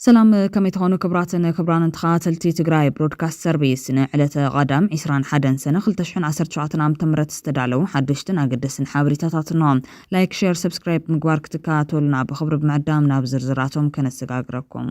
ሰላም ከመይ ትኾኑ ክብራትን ክብራንን ተኸታተልቲ ትግራይ ብሮድካስት ሰርቪስ ንዕለተ ቐዳም 21 ሰነ 2017 ዓ ም ዝተዳለዉ ሓደሽትን ኣገደስን ሓበሬታታት ኖ ላይክ ሸር ሰብስክራይብ ምግባር ክትከታተሉና ብክብሪ ብምዕዳም ናብ ዝርዝራቶም ከነሰጋግረኩም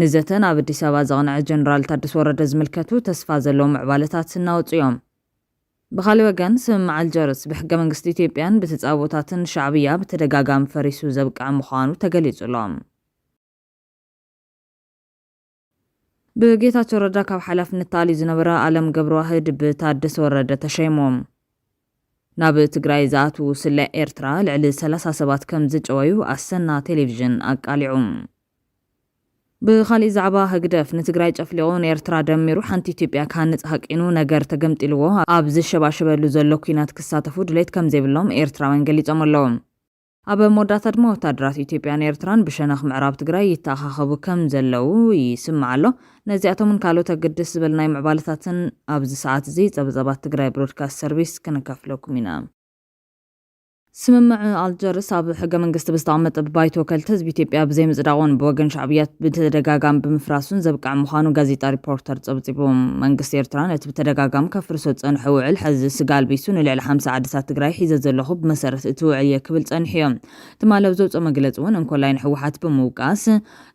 ንዘተ ናብ ኣዲስ ኣበባ ዘቕንዐ ጀነራል ታደሰ ወረደ ዝምልከቱ ተስፋ ዘለዎ ምዕባለታት እናወፁ እዮም። ብኻሊእ ወገን ስምምዕ ኣልጀርስ ብሕገ መንግስቲ ኢትዮጵያን ብተፃቦታትን ሻዕብያ ብተደጋጋሚ ፈሪሱ ዘብቅዐ ምዃኑ ተገሊፁ ኣሎ። ብጌታቸው ረዳ ካብ ሓላፍነት ተኣልዩ ዝነበረ ኣለም ገብረዋህድ ብታደሰ ወረደ ተሸይሙ። ናብ ትግራይ ዝኣትዉ ስለ ኤርትራ ልዕሊ ሰላሳ ሰባት ከም ዝጨወዩ ኣሰና ቴሌቪዥን ኣቃሊዑ። ብኻሊእ ዛዕባ ህግደፍ ንትግራይ ጨፍሊቑ ንኤርትራ ደሚሩ ሓንቲ ኢትዮጵያ ክሃንጽ ሃቂኑ ነገር ተገምጢልዎ ኣብ ዝሸባሸበሉ ዘሎ ኲናት ክሳተፉ ድሌት ከም ዘይብሎም ኤርትራውያን ገሊጾም ኣለዉ። ኣብ መወዳእታ ድማ ወታደራት ኢትዮጵያን ኤርትራን ብሸነኽ ምዕራብ ትግራይ ይተኣኻኸቡ ከም ዘለዉ ይስማዕ ኣሎ። ነዚኣቶምን ካልኦት ኣገደስ ዝበልናይ ምዕባለታትን ኣብዚ ሰዓት እዚ ጸብጻባት ትግራይ ብሮድካስት ሰርቪስ ክንከፍለኩም ኢና። ስምምዕ ኣልጀርስ ኣብ ሕገ መንግስቲ ብዝተቐመጠ ብባይቶ ወከልቲ ህዝቢ ኢትዮጵያ ብዘይምጽዳቑን ብወገን ሻዕብያ ብተደጋጋሚ ብምፍራሱን ዘብቅዐ ምዃኑ ጋዜጣ ሪፖርተር ጸብጺቡ። መንግስቲ ኤርትራ ነቲ ብተደጋጋሚ ከፍርሶ ዝፀንሖ ውዕል ሐዚ ስጋ ኣልቢሱ ንልዕሊ ሓምሳ ዓድታት ትግራይ ሒዘ ዘለኹ ብመሰረት እቲ ውዕል እየ ክብል ፀኒሑ እዮ። ትማሊ ኣብ ዘውፅኦ መግለፂ እውን እንኮላይ ንህወሓት ብምውቃስ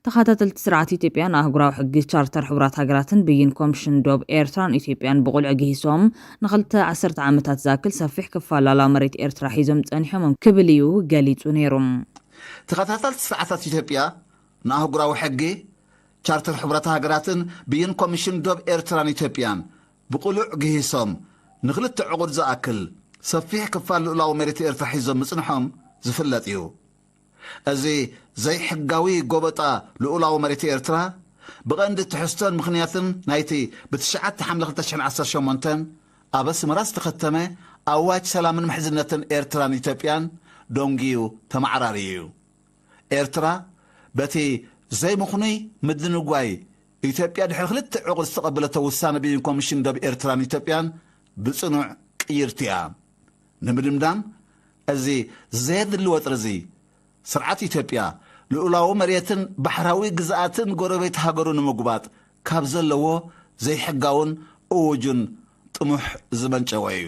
ተኸታተልቲ ስርዓት ኢትዮጵያ ንኣህጉራዊ ሕጊ፣ ቻርተር ሕቡራት ሃገራትን ብይን ኮምሽን ዶብ ኤርትራን ኢትዮጵያን ብቑልዒ ግሂሶም ንኽልተ ዓሰርተ ዓመታት ዝኣክል ሰፊሕ ክፋል ሉኣላዊ መሬት ኤርትራ ሒዞም ፀኒሖም ክብል እዩ ገሊፁ ነይሩ። ተኸታተልቲ ስርዓታት ኢትዮጵያ ንኣህጉራዊ ሕጊ፣ ቻርተር ሕቡራት ሃገራትን ብይን ኮሚሽን ዶብ ኤርትራን ኢትዮጵያን ብቕሉዕ ግሂሶም ንክልተ ዕቑድ ዝኣክል ሰፊሕ ክፋል ልኡላዊ መሬት ኤርትራ ሒዞም ምጽንሖም ዝፍለጥ እዩ። እዚ ዘይሕጋዊ ጎበጣ ልኡላዊ መሬት ኤርትራ፣ ብቐንዲ ትሕዝቶን ምኽንያትን ናይቲ ብትሽዓተ ሓምለ ክልተ ሽሕን ዓሰርተ ሸሞንተን ኣብ ኣስመራ ዝተኸተመ ኣዋጅ ሰላምን ምሕዝነትን ኤርትራን ኢትዮጵያን ደንጉዩ ተመዓራርዩ እዩ። ኤርትራ በቲ ዘይምኽኑይ ምድንጓይ ኢትዮጵያ ድሕሪ ክልተ ዕቑር ዝተቐበለቶ ውሳነ ብይን ኮሚሽን ዶብ ኤርትራን ኢትዮጵያን ብጽኑዕ ቅይርቲ እያ። ንምድምዳም እዚ ዘየድሊ ወጥሪ'ዚ፣ ስርዓት ኢትዮጵያ ልኡላዊ መሬትን ባሕራዊ ግዝኣትን ጎረቤት ሃገሩ ንምጉባጥ ካብ ዘለዎ ዘይሕጋውን እዉጁን ጥሙሕ ዝመንጨወ እዩ።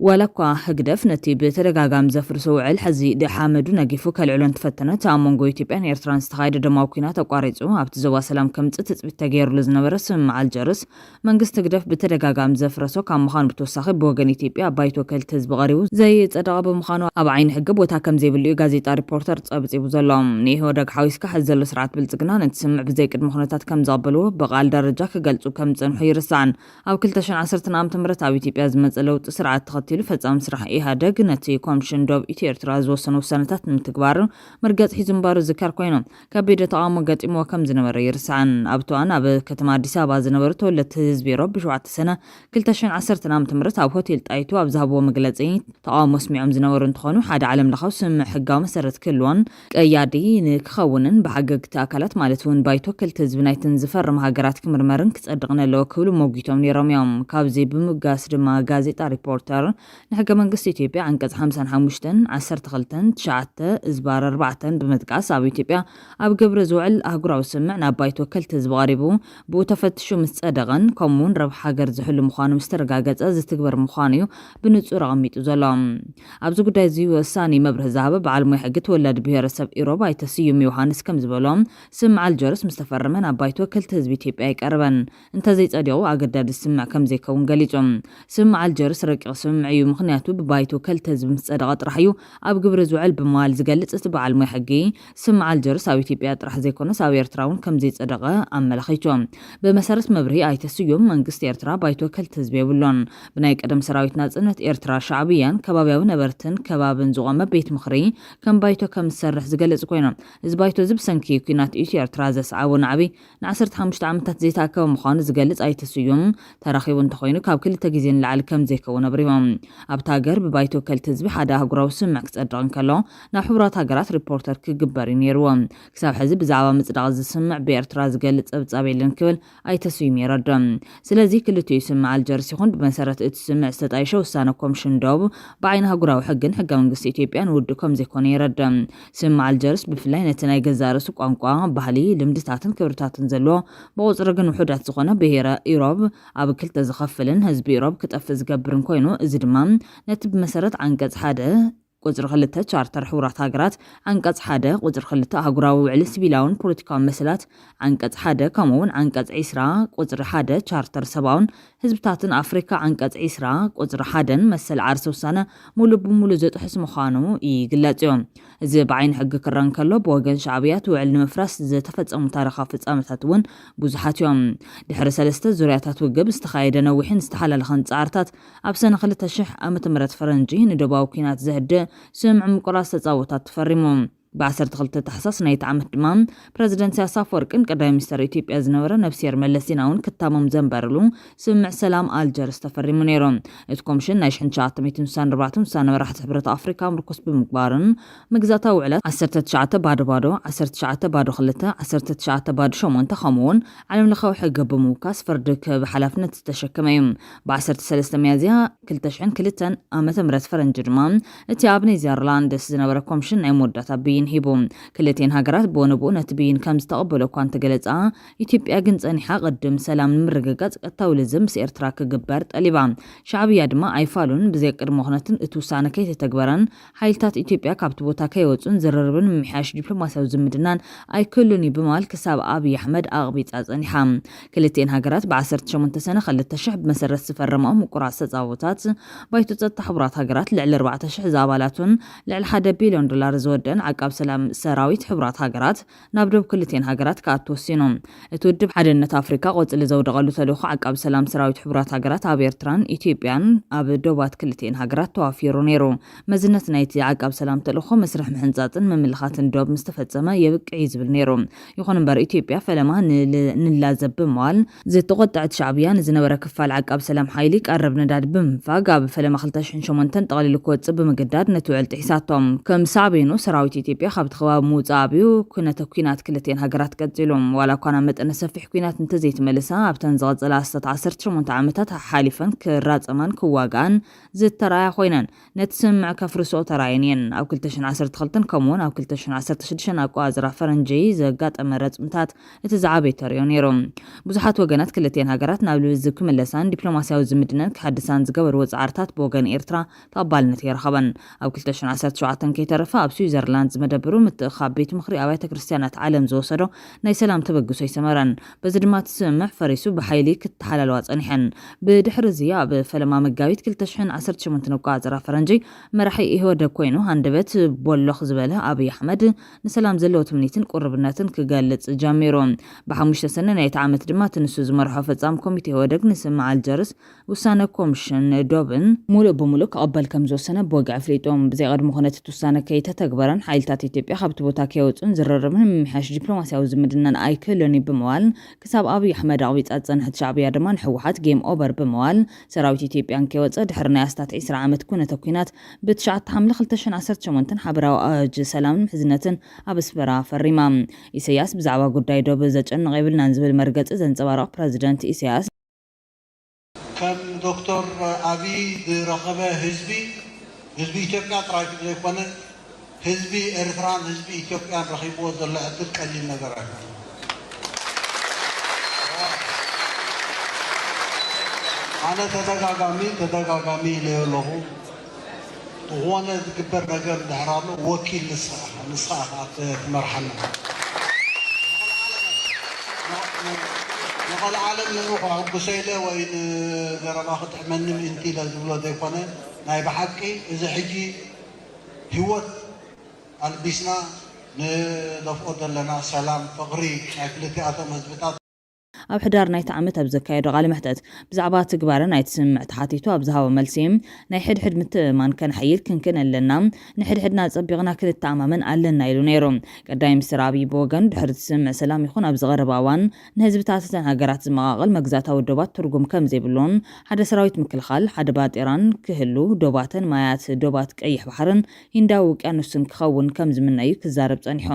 ዋላኳ ህግደፍ ነቲ ብተደጋጋሚ ዘፍርሶ ውዕል ሕዚ ሓመዱ ነጊፉ ከልዕሎ እንተፈተነ፣ እቲ ኣብ መንጎ ኢትዮጵያን ኤርትራን ዝተኻየደ ደማዊ ኲናት ኣቋሪጹ ኣብቲ ዞባ ሰላም ከምጽእ ትጽቢት ተገይሩሉ ዝነበረ ስምምዕ ኣልጀርስ መንግስቲ ህግደፍ ብተደጋጋሚ ዘፍረሶ ካብ ምዃኑ ብተወሳኺ ብወገን ኢትዮጵያ ኣብ ባይቶ ወከልቲ ህዝቢ ቀሪቡ ዘይጸደቐ ብምዃኑ ኣብ ዓይኒ ሕጊ ቦታ ከምዘይብሉ'ዩ ጋዜጣ ሪፖርተር ጸብጺቡ ዘሎ። ንኢህወደግ ሓዊስካ ሕዚ ዘሎ ስርዓት ብልጽግና ነቲ ስምምዕ ብዘይቅድመ ኩነታት ከምዝቐበልዎ ብቃል ደረጃ ክገልጹ ከምዝጸንሑ ኣይርሳዕን። ኣብ ክልተ ሽሕን ዓሰርተን ዓመተ ምህረት ኣብ ኢትዮጵያ ዝመፀ ለውጢ ስርዓት ተኸቲሉ ፈፃሚ ስራሕ ኢህኣደግ ነቲ ኮምሽን ዶብ ኢትዮ ኤርትራ ዝወሰኖ ውሳነታት ንምትግባር መርገፂ ሒዙ ምንባሩ ዝዝከር ኮይኑ ከቢደ ተቓውሞ ገጢምዎ ከም ዝነበረ ኣይርሳዕን። ኣብቲ እዋን ኣብ ከተማ ኣዲስ ኣበባ ዝነበሩ ተወለድቲ ህዝቢ ሮብ ሸውዓተ ሰነ ክልተ ሽሕን ዓሰርተን ዓመተ ምህረት ኣብ ሆቴል ጣይቱ ኣብ ዝሃብዎ መግለፂ ተቓውሞ ኣስሚዖም ዝነበሩ እንትኾኑ ሓደ ዓለም ለኻዊ ስምምዕ ሕጋዊ መሰረት ክህልዎን ቀያዲ ንክኸውንን ብሓገግቲ ኣካላት ማለት እውን ባይቶ ክልተ ህዝቢ ናይተን ዝፈርም ሃገራት ክምርመርን ክጸድቕን ኣለዎ ክብሉ ሞጒቶም ነይሮም እዮም። ካብዚ ብምብጋስ ድማ ጋዜጣ ሪፖርተር ንሕገ መንግስቲ ኢትዮጵያ ዓንቀጽ ሓምሳን ሓሙሽተን፣ ዓሰርተ ክልተን፣ ትሽዓተ እዝባር ኣርባዕተን ብምጥቃስ ኣብ ኢትዮጵያ ኣብ ግብሪ ዝውዕል ኣህጉራዊ ስምምዕ ናብ ባይቶ ወከልቲ ህዝቢ ቐሪቡ ብኡ ተፈትሹ ምስ ጸደቐን ከምኡ እውን ረብሓ ሃገር ዝሕሉ ምዃኑ ምስ ተረጋገጸ ዝትግበር ምዃኑ እዩ ብንጹር ኣቐሚጡ ዘሎ። ኣብዚ ጉዳይ'ዚ ወሳኒ መብርሂ ዝሃበ በዓል ሞያ ሕጊ ተወላዲ ብሄረሰብ ኢሮብ ኣይተ ስዩም ዮውሃንስ ከም ዝበሎ፣ ስምምዕ ኣልጀርስ ምስ ተፈረመ ናብ ባይቶ ወከልቲ ህዝቢ ኢትዮጵያ ኣይቀረበን። እንተዘይጸዲቑ ኣገዳዲ ስምምዕ ከም ዘይከውን ገሊጹ። ስምምዕ ኣልጀርስ ረቂቕ ስምምዕ እዩ፣ ምኽንያቱ ብባይቶ ወከልቲ ህዝቢ ምስ ጸደቐ ጥራሕ እዩ ኣብ ግብሪ ዝውዕል ብምባል ዝገልጽ እቲ በዓል ሞያ ሕጊ፣ ስምምዕ ኣልጀርስ ኣብ ኢትዮጵያ ጥራሕ ዘይኮነስ ኣብ ኤርትራ እውን ከምዘይጸደቐ ኣመላኺቱ። ብመሰረት መብርሂ ኣይተ ስዩም፣ መንግስቲ ኤርትራ ባይቶ ወከልቲ ህዝቢ የብሉን። ብናይ ቀደም ሰራዊት ናጽነት ኤርትራ፣ ሻዕብያን ከባብያዊ ነበርትን ከባብን ዝቖመ ቤት ምኽሪ ከም ባይቶ ከም ዝሰርሕ ዝገልጽ ኮይኑ፣ እዚ ባይቶ'ዚ ብሰንኪ ኲናት ኢትዮ-ኤርትራ ዘስዓቦ ናዕቢ ንዓሰርተ ሓሙሽተ ዓመታት ዘይተኣከበ ምዃኑ ዝገልጽ ኣይተ ስዩም፣ ተራኺቡ እንተኾይኑ ካብ ክልተ ግዜ ንላዕሊ ከምዘይከውን ኣብሪሆም። ኣብታ ሃገር ብባይቶ ወከልቲ ህዝቢ ሓደ ኣህጉራዊ ስምምዕ ክጸድቕ እንከሎ ናብ ሕቡራት ሃገራት ሪፖርተር ክግበር እዩ ነይርዎ። ክሳብ ሕዚ ብዛዕባ ምጽዳቕ እዚ ስምምዕ ብኤርትራ ዝገልጽ ጸብጻብ የለን ክብል ኣይተ ስዩም የረድእ። ስለዚ ክልቲኡ ስምምዕ ኣልጀርስ ይኹን ብመሰረት እቲ ስምምዕ ዝተጣየሸ ውሳነ ኮምሽን ዶብ ብዓይኒ ኣህጉራዊ ሕግን ሕገ መንግስቲ ኢትዮጵያን ውዱእ ከምዘይኮነ የረድእ። ስም ኣልጀርስ ብፍላይ ነቲ ናይ ገዛእ ርእሱ ቋንቋ፣ ባህሊ፣ ልምድታትን ክብርታትን ዘለዎ፣ ብቑጽሪ ግን ውሑዳት ዝኾነ ብሄረ ኢሮብ ኣብ ክልተ ዝኸፍልን ህዝቢ ኢሮብ ክጠፍእ ዝገብርን ኮይኑ እዚ ድማ ነቲ ብመሰረት ዓንቀጽ ሓደ ቁጽሪ ክልተ ቻርተር ሕቡራት ሃገራት፣ ዓንቀጽ ሓደ ቁጽሪ ክልተ ኣህጉራዊ ውዕሊ ሲቪላውን ፖለቲካውን መሰላት፣ ዓንቀጽ ሓደ ከምኡ'ውን ዓንቀጽ ዕስራ ቁጽሪ ሓደ ቻርተር ሰብኣውን ህዝብታትን ኣፍሪካ ዓንቀፅ ዕስራ ቁፅሪ ሓደን መሰል ዓርሰ ውሳነ ሙሉእ ብሙሉእ ዝጥሕስ ምዃኑ ይግለፅ እዩ። እዚ ብዓይኒ ሕጊ ክረኣ እንከሎ ብወገን ሻዕብያ እቲ ውዕል ንምፍራስ ዝተፈፀሙ ታሪኻዊ ፍፃመታት እውን ብዙሓት እዮም። ድሕሪ ሰለስተ ዙርያታት ውግብ ዝተኻየደ ነዊሕን ዝተሓላለኸን ፃዕርታት ኣብ ሰነ ክልተ ሽሕ ዓመተ ምህረት ፈረንጂ ንዶባዊ ኲናት ዘህድእ ስምምዕ ምቁራፅ ተፃቦታት ተፈሪሙ። ብ12 ታሕሳስ ናይቲ ዓመት ድማ ፕረዚደንት ኢሳያስ ኣፈወርቅን ቀዳማይ ሚኒስተር ኢትዮጵያ ዝነበረ ነብስሄር መለስ ዜናውን ክታሞም ዘንበርሉ ስምምዕ ሰላም ኣልጀርስ ተፈሪሙ ነይሩ። እቲ ኮምሽን ናይ ሽሕን ትሽዓተ ሚእትን ስሳን ኣርባዕተን ውሳነ መራሕቲ ሕብረት ኣፍሪካ ምርኩስ ብምግባርን ምግዛታዊ ውዕላት ዓሰርተ ትሽዓተ ባዶ ባዶ፣ ዓሰርተ ትሽዓተ ባዶ ክልተ፣ ዓሰርተ ትሽዓተ ባዶ ሸሞንተ ከምኡውን ዓለምለኻዊ ሕጊ ብምውካስ ፍርዲ ክህብ ሓላፍነት ዝተሸከመ እዩ። ብ ዓሰርተ ሰለስተ ሚያዝያ፣ ክልተ ሽሕን ክልተን ዓመተ ምህረት ፈረንጂ ድማ እቲ ኣብ ኔዘርላንድስ ዝነበረ ኮምሽን ናይ መወዳእታ ብይን ሂቡ። ክልቲኤን ሃገራት ብወነብኡ ነቲ ብይን ከም ዝተቐበሎ እኳ እንተገለጻ፣ ኢትዮጵያ ግን ጸኒሓ ቅድም ሰላም ንምርግጋጽ ቀጥታዊ ልዝብ ምስ ኤርትራ ክግበር ጠሊባ። ሻዕብያ ድማ ኣይፋሉን ብዘይቅድመ ኩነትን እቲ ውሳነ ከይተተግበረን ሓይልታት ኢትዮጵያ ካብቲ ቦታ ከይወጹን ዝርርብን ምምሕያሽ ዲፕሎማስያዊ ዝምድናን ኣይክህሉን'ዩ ብምባል ክሳብ ኣብይ ኣሕመድ ኣቕቢጻ ጸኒሓ። ክልቲኤን ሃገራት ብ ዓሰርተ ሸሞንተ ሰነ ክልተ ሽሕ ብመሰረት ዝፈረማኦ ምቁራጽ ተጻብኦታት፣ ባይቶ ጸጥታ ሕቡራት ሃገራት ልዕሊ ኣርባዕተ ሽሕ ዝኣባላቱን ልዕሊ ሓደ ቢልዮን ዶላር ዝወደእን ዓቃብ ሰላም ሰራዊት ሕቡራት ሃገራት ናብ ዶብ ክልቲኤን ሃገራት ክኣቱ ወሲኑ። እቲ ውድብ ሓደነት ኣፍሪካ ቆፅሊ ዘውደቐሉ ተልእኾ ዓቃቢ ሰላም ሰራዊት ሕቡራት ሃገራት ኣብ ኤርትራን ኢትዮጵያን ኣብ ዶባት ክልቲኤን ሃገራት ተዋፊሩ ነይሩ። መዝነት ናይቲ ዓቃቢ ሰላም ተልእኾ መስርሕ ምሕንፃፅን ምምልኻትን ዶብ ምስተፈፀመ የብቅዕ እዩ ዝብል ነይሩ። ይኹን እምበር ኢትዮጵያ ፈለማ ንላዘብ ብምባል ዝተቖጠዐት ሻዕብያ ንዝነበረ ክፋል ዓቃብ ሰላም ሓይሊ ቀረብ ነዳዲ ብምንፋግ ኣብ ፈለማ ክልተ ሽሕን ሸሞንተን ጠቕሊሉ ክወጽእ ብምግዳድ ነቲ ውዕል ጥሒሳቶ። ከም ሳዕቤኑ ሰራዊት ኢትዮጵያ ካብቲ ከባቢ ምውጻእ ኣብዩ። ኩነተ ኲናት ክልቲኤን ሃገራት ቀጺሉ። ዋላ እኳ ናብ መጠነ ሰፊሕ ኲናት እንተዘይተመልሳ ኣብተን ዝቐጸላ ኣስታት ዓሰርተ ሸሞንተ ዓመታት ሓሓሊፈን ክራጸማን ክዋግኣን ዝተራእያ ኮይነን። ነቲ ስምምዕ ከፍርሰኦ ተራእየን እየን። ኣብ ክልተ ሽሕን ዓሰርተ ክልተን ከምኡ'ውን ኣብ ክልተ ሽሕን ዓሰርተ ሽዱሽተን ኣቆጻጽራ ፈረንጂ ዘጋጠመ ረጽምታት እቲ ዝዓበየ ተርእዮ ነይሩ። ብዙሓት ወገናት ክልቲኤን ሃገራት ናብ ልዝብ ክምለሳን ዲፕሎማስያዊ ዝምድነን ክሕድሳን ዝገበርዎ ጻዕርታት ብወገን ኤርትራ ተቐባልነት ኣይረኸበን። ኣብ ክልተ ሽሕን ዓሰርተ ሸውዓተን ከይተረፈ ኣብ ስዊዘርላንድ ዝመደበሩ ምትእኽኻብ ቤት ምኽሪ ኣብያተ ክርስትያናት ዓለም ዝወሰዶ ናይ ሰላም ተበግሶ ኣይሰመረን። በዚ ድማ እቲ ስምምዕ ፈሪሱ ብሓይሊ ክተሓላለዋ ጸኒሐን። ብድሕሪ እዚ ኣብ ፈለማ መጋቢት ክልተ ሽሕን ዓሰርተ ሸሞንተን ኣቆጻጽራ ፈረንጂ መራሒ ኢህወደግ ኮይኑ ሃንደበት ቦሎኽ ዝበለ ኣብይ ኣሕመድ ንሰላም ዘለዎ ትምኒትን ቁርብነትን ክገልጽ ጀሚሩ። ብሓሙሽተ ሰነ ናይቲ ዓመት ድማ እቲ ንሱ ዝመርሖ ፈጻሚ ኮሚቴ ኢህወደግ ንስምምዕ ኣልጀርስ ውሳነ ኮምሽን ዶብን ሙሉእ ብሙሉእ ክቕበል ከምዝወሰነ ብወግዒ ኣፍሊጡ። ብዘይቐድሞ ኩነት እቲ ውሳነ ከይተተግበረን ሓይልታት ኢትዮጵያ ካብቲ ቦታ ከይወፁን ዝርርብ ንምምሕያሽ ዲፕሎማሲያዊ ዝምድናን ኣይክህሉን እዩ ብምባል ክሳብ ኣብይ ኣሕመድ ኣቕቢፃ ዝፀንሐት ሻዕብያ ድማ ንህወሓት ጌም ኦቨር ብምባል ሰራዊት ኢትዮጵያ እንከይወፀ ድሕሪ ናይ ኣስታት ዒስራ ዓመት ኩነተ ኩናት ብ ትሽዓተ ሓምለ ክልተ ሽሕን ዓሰርተ ሸሞንተን ሓበራዊ ኣዋጅ ሰላምን ምሕዝነትን ኣብ ኣስመራ ፈሪማ። ኢሰያስ ብዛዕባ ጉዳይ ዶብ ዘጨንቕ የብልናን ዝብል መርገፂ ዘንፀባርቕ ፕረዚደንት ኢሰያስ፣ ከም ዶክተር ኣብይ ዝረኸበ ህዝቢ፣ ህዝቢ ኢትዮጵያ ጥራይ ዘይኮነ ህዝቢ ኤርትራን ህዝቢ ኢትዮጵያን ረኺብዎ ዘሎ ዕድል ቀሊል ነገር ኣይኮነን። ኣነ ተደጋጋሚ ተደጋጋሚ ኢለዮ ኣለኹ። ብኾነ ዝግበር ነገር እንድሕር ኣሎ ወኪል ንስኻ ኢኻ ንስኻ ኢኻ ትመርሓና ንቐልዓለም ንዑ ከሕጉሶ ኢለ ወይ ንዘረባ ክጥዕመኒ ምእንቲ ኢለ ዝብሎ ዘይኮነ ናይ ብሓቂ እዚ ሕጂ ሂወት ኣልቢስና ንደፍኦ ዘለና ሰላም ፍቕሪ ናይ ክልቲኣቶም ህዝብታት ኣብ ሕዳር ናይቲ ዓመት ኣብ ዘካየዶ ቃለ መሕተት፣ ብዛዕባ ትግባረ ናይቲ ስምምዕ ተሓቲቱ ኣብ ዝሃቦ መልሲ፣ ናይ ሕድሕድ ምትእምማን ከነሐይል ክንክን ኣለና፣ ንሕድሕድና ኣጸቢቕና ክንተኣማመን ኣለና ኢሉ ነይሩ። ቀዳማይ ሚኒስተር ኣብይ ብወገኑ፣ ድሕሪ እቲ ስምምዕ ሰላም ይኹን ኣብዚ ቀረባ እዋን ንህዝብታት እተን ሃገራት ዝመቓቕል መግዛእታዊ ዶባት ትርጉም ከም ዘይብሉን ሓደ ሰራዊት ምክልኻል፣ ሓደ ባጤራን ክህሉ፣ ዶባተን ማያት ዶባት ቀይሕ ባሕርን ሂንዳዊ ውቅያኖስን ክኸውን ከም ዝምነ'ዩ ክዛረብ ጸኒሑ።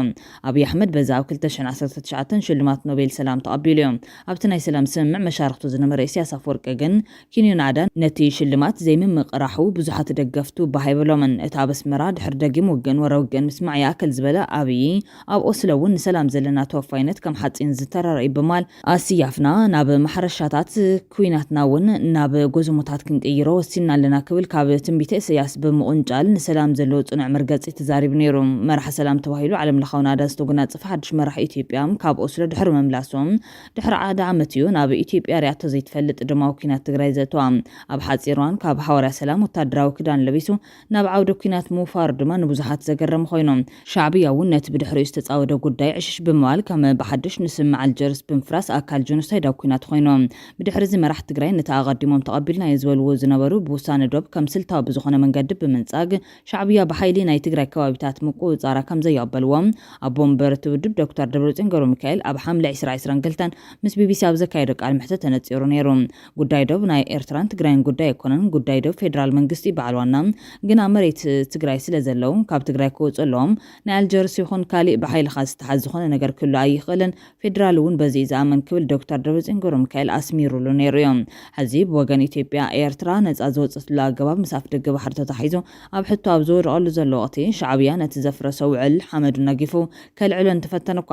ኣብይ ኣሕመድ በዚ ኣብ ክልተ ሽሕን ዓሰርተ ትሽዓተን ሽልማት ኖቤል ሰላም ተቐቢሉ'ዩ። ኣብቲ ናይ ሰላም ስምምዕ መሻርኽቱ ዝነበረ ኢሳያስ ኣፍወርቂ ግን፣ ኪንዮ ናእዳ ነቲ ሽልማት ዘይምምቅራሑ ብዙሓት ደገፍቱ ባህ ኣይበሎምን። እታ ኣብ ኣስመራ ድሕሪ ደጊም ውግእን ወረ ውግእን ምስማዕ ይኣክል ዝበለ ኣብይ፣ ኣብ ኦስሎ እውን ንሰላም ዘለና ተወፋይነት ከም ሓፂን ዝተረረ እዩ ብማል ኣስያፍና ናብ ማሕረሻታት ኩናትና እውን ናብ ጎዝሞታት ክንቅይሮ ወሲንና ኣለና ክብል ካብ ትንቢተ እሰያስ ብምቁንጫል ንሰላም ዘለዎ ፅኑዕ መርገፂ ተዛሪቡ ነይሩ። መራሒ ሰላም ተባሂሉ ዓለም ለኻዊ ናእዳ ዝተጎናፀፈ ሓዱሽ መራሒ ኢትዮጵያ ካብ ኦስሎ ድሕሪ ምምላሱ ድሕሪ ሓደ ዓመት እዩ ናብ ኢትዮጵያ ሪኣቶ ዘይትፈልጥ ደማዊ ኩናት ትግራይ ዘእተዋ። ኣብ ሓፂር እዋን ካብ ሃዋርያ ሰላም ወታደራዊ ክዳን ለቢሱ ናብ ዓውደ ኲናት ምውፋሩ ድማ ንብዙሓት ዘገረመ ኮይኑ፣ ሻዕብያ እውን ነቲ ብድሕሪኡ ዝተጻወደ ጉዳይ ዕሽሽ ብምባል ከም ብሓድሽ ንስምምዕ ኣልጀርስ ብምፍራስ ኣካል ጆኖሳይዳዊ ኲናት ኮይኑ። ብድሕሪ'ዚ መራሕቲ ትግራይ ነቲ ኣቐዲሞም ተቐቢልናዮ ዝበልዎ ዝነበሩ ብውሳነ ዶብ ከም ስልታዊ ብዝኾነ መንገዲ ብምንጻግ ሻዕብያ ብሓይሊ ናይ ትግራይ ከባቢታት ምቁጽጻራ ከም ዘየቕበልዎ ኣቦ መንበር እቲ ውድብ ዶክተር ደብረጽዮን ገብረሚካኤል ኣብ ሓምለ ዕስራ ዕስራን ክልተን ምስ ቢቢሲ ኣብ ዘካየዶ ቃለ መሕተት ተነጺሩ ነይሩ። ጉዳይ ዶብ ናይ ኤርትራን ትግራይን ጉዳይ ኣይኮነን ጉዳይ ዶብ ፌድራል መንግስቲ እዩ በዓል ዋና ግን ኣብ መሬት ትግራይ ስለ ዘለው ካብ ትግራይ ክወፁ ኣለዎም ናይ ኣልጀርስ ይኹን ካሊእ ብሓይልኻ ዝተሓዝ ዝኾነ ነገር ክህሉ ኣይኽእልን ፌድራል እውን በዚ እዩ ዝኣምን ክብል ዶክተር ደብረፅዮን ገብረሚካኤል ኣስሚሩሉ ነይሩ እዩ ሐዚ ብወገን ኢትዮጵያ ኤርትራ ነፃ ዝወፀትሉ ኣገባብ ምስ ኣፍደገ ባሕሪ ተታሒዙ ኣብ ሕቶ ኣብ ዝወደቐሉ ዘሎ ወቕቲ ሻዕብያ ነቲ ዘፍረሶ ውዕል ሓመዱ ነጊፉ ከልዕሎ እንተፈተነ እኳ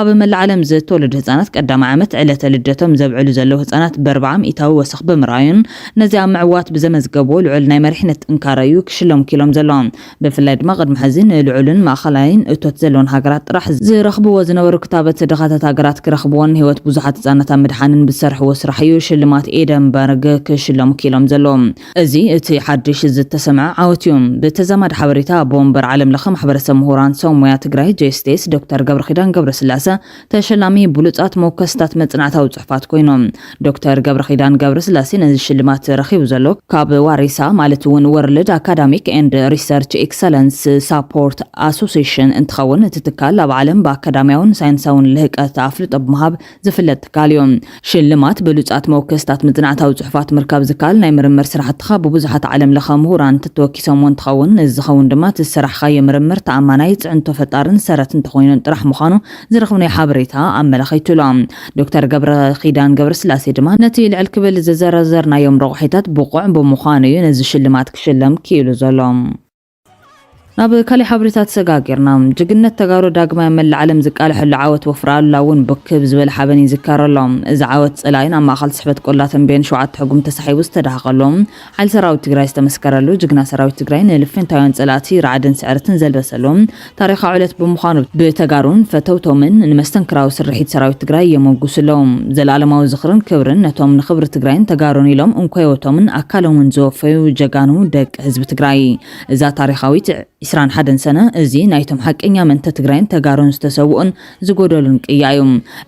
ኣብ መላእ ዓለም ዝተወለዱ ህጻናት ቀዳማይ ዓመት ዕለተ ልደቶም ዘብዕሉ ዘለዉ ህጻናት በርብዓ ሚኢታዊ ወሰኽ ብምርኣዩን ነዚ ኣብ ምዕዋት ብዘመዝገብዎ ልዑል ናይ መሪሕነት ጥንካረ እዩ ክሽለሙ ክኢሎም ዘለዎም። ብፍላይ ድማ ቅድሚ ሕዚ ንልዑልን ማእኸላይን እቶት ዘለወን ሃገራት ጥራሕ ዝረኽብዎ ዝነበሩ ክታበት ድኻታት ሃገራት ክረኽብዎን ንህይወት ብዙሓት ህጻናት ኣብ ምድሓንን ብዝሰርሕዎ ስራሕ እዩ ሽልማት ኤደንበርግ ክሽለሙ ክኢሎም ዘለዎም። እዚ እቲ ሓድሽ ዝተሰምዐ ዓወት እዩ። ብተዛማዲ ሓበሬታ ኣቦ ወንበር ዓለም ለኸ ማሕበረሰብ ምሁራን ሰው ሙያ ትግራይ፣ JSTS፣ ዶክተር ገብረኺዳን ገብረስላሰ ተሸላሚ ብሉፃት መወከስታት መፅናዕታዊ ፅሑፋት ኮይኖም። ዶክተር ገብረኺዳን ገብረስላሴ ነዚ ሽልማት ረኺቡ ዘሎ ካብ ዋሪሳ ማለት እውን ወርልድ ኣካዳሚክ ኤንድ ሪሰርች ኤክሰለንስ ሳፖርት ኣሶሴሽን እንትኸውን እቲ ትካል ኣብ ዓለም ብኣካዳሚያውን ሳይንሳውን ልህቀት ኣፍልጦ ብምሃብ ዝፍለጥ ትካል እዩ። ሽልማት ብሉጻት መወከስታት መጽናዕታዊ ጽሑፋት ምርካብ ዝከኣል ናይ ምርምር ስራሕትኻ ብብዙሓት ዓለም ለኸ ምሁራን እንተተወኪሶምዎ እንትኸውን እዚ ዝኸውን ድማ እቲ ዝሰራሕኻዮ ምርምር ተኣማናይ፣ ጽዕንቶ ፈጣርን ሰረት እንተኾይኑን ጥራሕ ምዃኑ ዝረኽብናዮ ሓበሬታ ኣመላኺቱ እሎ። ዶክተር ገብረኺዳን ገብረስላሴ ድማ ነቲ ልዕል ክብል ዝዘረዘርናዮም ረቑሒታት ብቑዕ ብምዃኑ እዩ ነዚ ሽልማት ክሽለም ክኢሉ ዘሎ። ናብ ካሊእ ሓበሬታ ተሰጋጊርና። ጅግነት ተጋሩ ዳግማይ ኣብ መላእ ዓለም ዝቃለሐሉ ዓወት ወፍሪ ኣሉላ እውን ብክብ ዝበለ ሓበን ይዝከር ኣሎ። እዚ ዓወት ፀላኢ ናብ ማእኸል ስሕበት ቆላ ተምቤን ሸውዓተ ሕጉም ተሳሒቡ ዝተዳሃኸሉ ሓይሊ ሰራዊት ትግራይ ዝተመስከረሉ ጅግና ሰራዊት ትግራይ ንልፍንታውያን ፀላእቲ ራዕድን ስዕረትን ዘልበሰሉ ታሪኻዊ ዕለት ብምዃኑ ብተጋሩን ፈተውቶምን ንመስተንክራዊ ስርሒት ሰራዊት ትግራይ የሞጉሱ ኣለው። ዘለኣለማዊ ዝኽርን ክብርን ነቶም ንኽብሪ ትግራይን ተጋሩን ኢሎም እንኮ ህይወቶምን ኣካሎምን ዝወፈዩ ጀጋኑ ደቂ ህዝቢ ትግራይ። እዛ ታሪኻዊት ዕስራን ሓደን ሰነ እዚ ናይቶም ሓቀኛ ምእንተ ትግራይን ተጋሩን ዝተሰውኡን ዝጎደሉን ቅያ እዩ።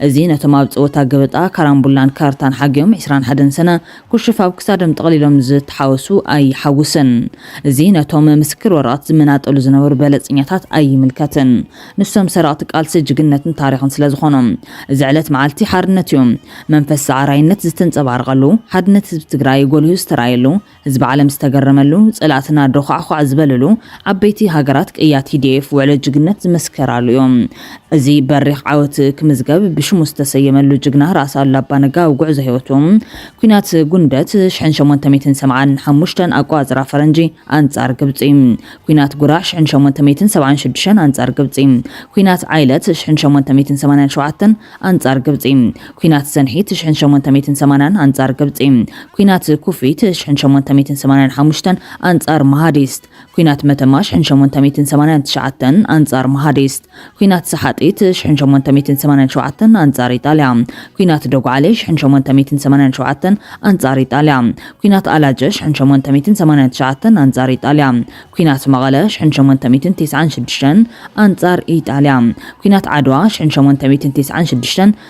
እዚ ነቶም ኣብ ፀወታ ገበጣ፣ ካራምቡላን ካርታን ሓጊኦም ዕስራን ሓደን ሰነ ኩሽፍ ኣብ ክሳዶም ጠቕሊሎም ዝተሓወሱ ኣይሓውስን። እዚ ነቶም ምስክር ወረቐት ዝመናጠሉ ዝነበሩ በለጸኛታት ኣይምልከትን። ንሶም ሰረቕቲ ቃልሲ ጅግነትን ታሪኽን ስለ ዝኾኑ። እዚ ዕለት መዓልቲ ሓርነት እዩ። መንፈስ ሰዓራይነት ዝተንጸባረቐሉ፣ ሓድነት ህዝቢ ትግራይ ጎሊሁ ዝተራእየሉ፣ ህዝቢ ዓለም ዝተገረመሉ፣ ጸላእትና ዶዃዕዃዕ ዝበልሉ፣ ዓበይቲ ሃገራት ቅያ TDF ውዕሎ ጅግነት ዝመስከራሉ እዩ። እዚ በሪኽ ዓወት ክምዝገብ ብሽሙ ዝተሰየመሉ ጅግና ራእሲ ኣሉላ ኣባነጋ ኣብ ጉዕዞ ህይወቱ፣ ኲናት ጉንደት፣ ሽሕን ሸሞንተ ሚእትን ሰብዓን ሓሙሽተን ኣቆፃፅራ ፈረንጂ፣ ኣንፃር ግብፂ፣ ኲናት ጉራ፣ ሽሕን ሸሞንተ ሚእትን ሰብዓን ሽዱሽተን ኣንፃር ግብፂ፣ ኲናት ዓይለት፣ ሽሕን ሸሞንተ ሚእትን ሰማንያን ሸውዓተን ኣንፃር ግብፂ፣ ኲናት ሰንሒት፣ ሽሕን ሸሞንተ ሚእትን ሰማንያን ኣንፃር ግብፂ፣ ኲናት ኩፊት፣ ሽሕን ሸሞንተ ሚእትን ሰማንያን ሓሙሽተን ኣንፃር መሃዲስት፣ ኲናት መተማ ሽሕን ሸሞንተ ሚእትን ሰማንያን ትሽዓተን፣ ኣንጻር መሃዲስት። ኲናት ሰሓጢት ሽሕን ሸሞንተ ሚእትን ሰማንያን ሸውዓተን፣ ኣንጻር ኢጣልያ። ኲናት ዶግዓሌ ሽሕን ሸሞንተ ሚእትን ሰማንያን ሸውዓተን፣ ኣንጻር ኢጣልያ። ኲናት ኣላጀ ሽሕን ሸሞንተ ሚእትን ሰማንያን ትሽዓተን፣ ኣንጻር ኢጣልያ። ኲናት መቐለ ሽሕን ሸሞንተ ሚእትን ቴስዓን ሽዱሽተን፣ ኣንጻር ኢጣልያ። ኲናት ዓድዋ ሽሕን ሸሞንተ ሚእትን ቴስዓን ሽዱሽተን፣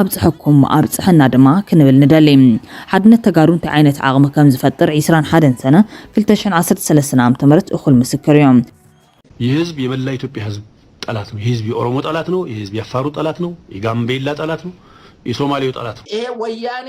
ኣብፀሐኩም ኣብፀሐና ድማ ክንብል ንደሊ። ሓድነት ተጋሩ እንታይ ዓይነት ዓቕሚ ከም ዝፈጥር ዕስራን ሓደን ሰነ ክልተ ሽሕን ዓሰርተ ሰለስተን ዓመተ ምህረት እኹል ምስክር እዩ። ይህ ህዝብ የመላው ኢትዮጵያ ህዝብ ጠላት ነው። ይህ ህዝብ የኦሮሞ ጠላት ነው። ይህ ህዝብ የአፋሩ ጠላት ነው። የጋምቤላ ጠላት ነው። የሶማሌው ጠላት ነው። ይሄ ወያኔ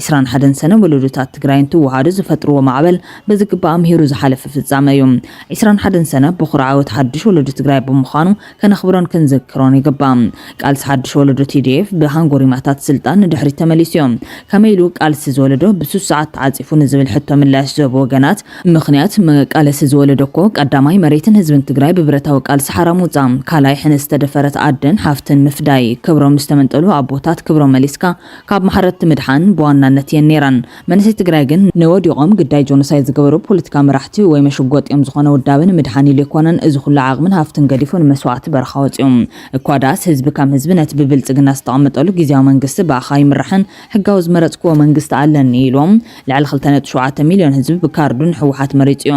ዕስራን ሓደን ሰነ ወለዶታት ትግራይ እንትወሃዱ ዝፈጥርዎ ማዕበል ብዝግባእ ኣምሂሩ ዝሓለፈ ፍፃመ እዩ። ዕስራን ሓደን ሰነ ቦኹሪ ዓወት ሓዱሽ ወለዶ ትግራይ ብምዃኑ ከነኽብሮን ክንዝክሮን ይግባእ። ቃልሲ ሓዱሽ ወለዶ tdf ብሃንጎሪማታት ስልጣን ንድሕሪት ተመሊሱ እዩ። ከመይ ኢሉ ቃልሲ እዚ ወለዶ ብስሱዓት ተዓፂፉ ንዝብል ሕቶ ምላሽ ዝህቡ ወገናት፣ ምኽንያት መቃለሲ እዚ ወለዶ እኮ ቀዳማይ መሬትን ህዝብን ትግራይ ብብረታዊ ቃልሲ ሓራ ምውፃእ፣ ካልኣይ ሕነ ዝተደፈረት ኣደን ሓፍትን ምፍዳይ፣ ክብሮም ዝተመንጠሉ ኣቦታት ክብሮም መሊስካ፣ ካብ ማሕረድቲ ምድሓን ብዋናነት እየን ነይረን። መንእሰይ ትግራይ ግን ንወዲቆም ግዳይ ጆኖሳይድ ዝገበሩ ፖለቲካዊ መራሕቲ ወይ መሸጎጥ እዮም ዝኾነ ውዳበ ንምድሓን ኢሉ ኣይኮነን እዚ ኩሉ ዓቅምን ሃፍቱን ገዲፉ ንመስዋእቲ በረኻ ወፂኡ እኳ ድኣስ ህዝቢ ከም ህዝቢ ነቲ ብብልፅግና ዝተቀመጠሉ ጊዚያዊ መንግስቲ ብኣኻ ይምራሕን ሕጋዊ ዝመረፅክዎ መንግስቲ ኣለኒ ኢሉ ልዕሊ ክልተ ነጥቢ ሸውዓተ ሚልዮን ህዝቢ ብካርዱ ንሕወሓት መሪፁ እዩ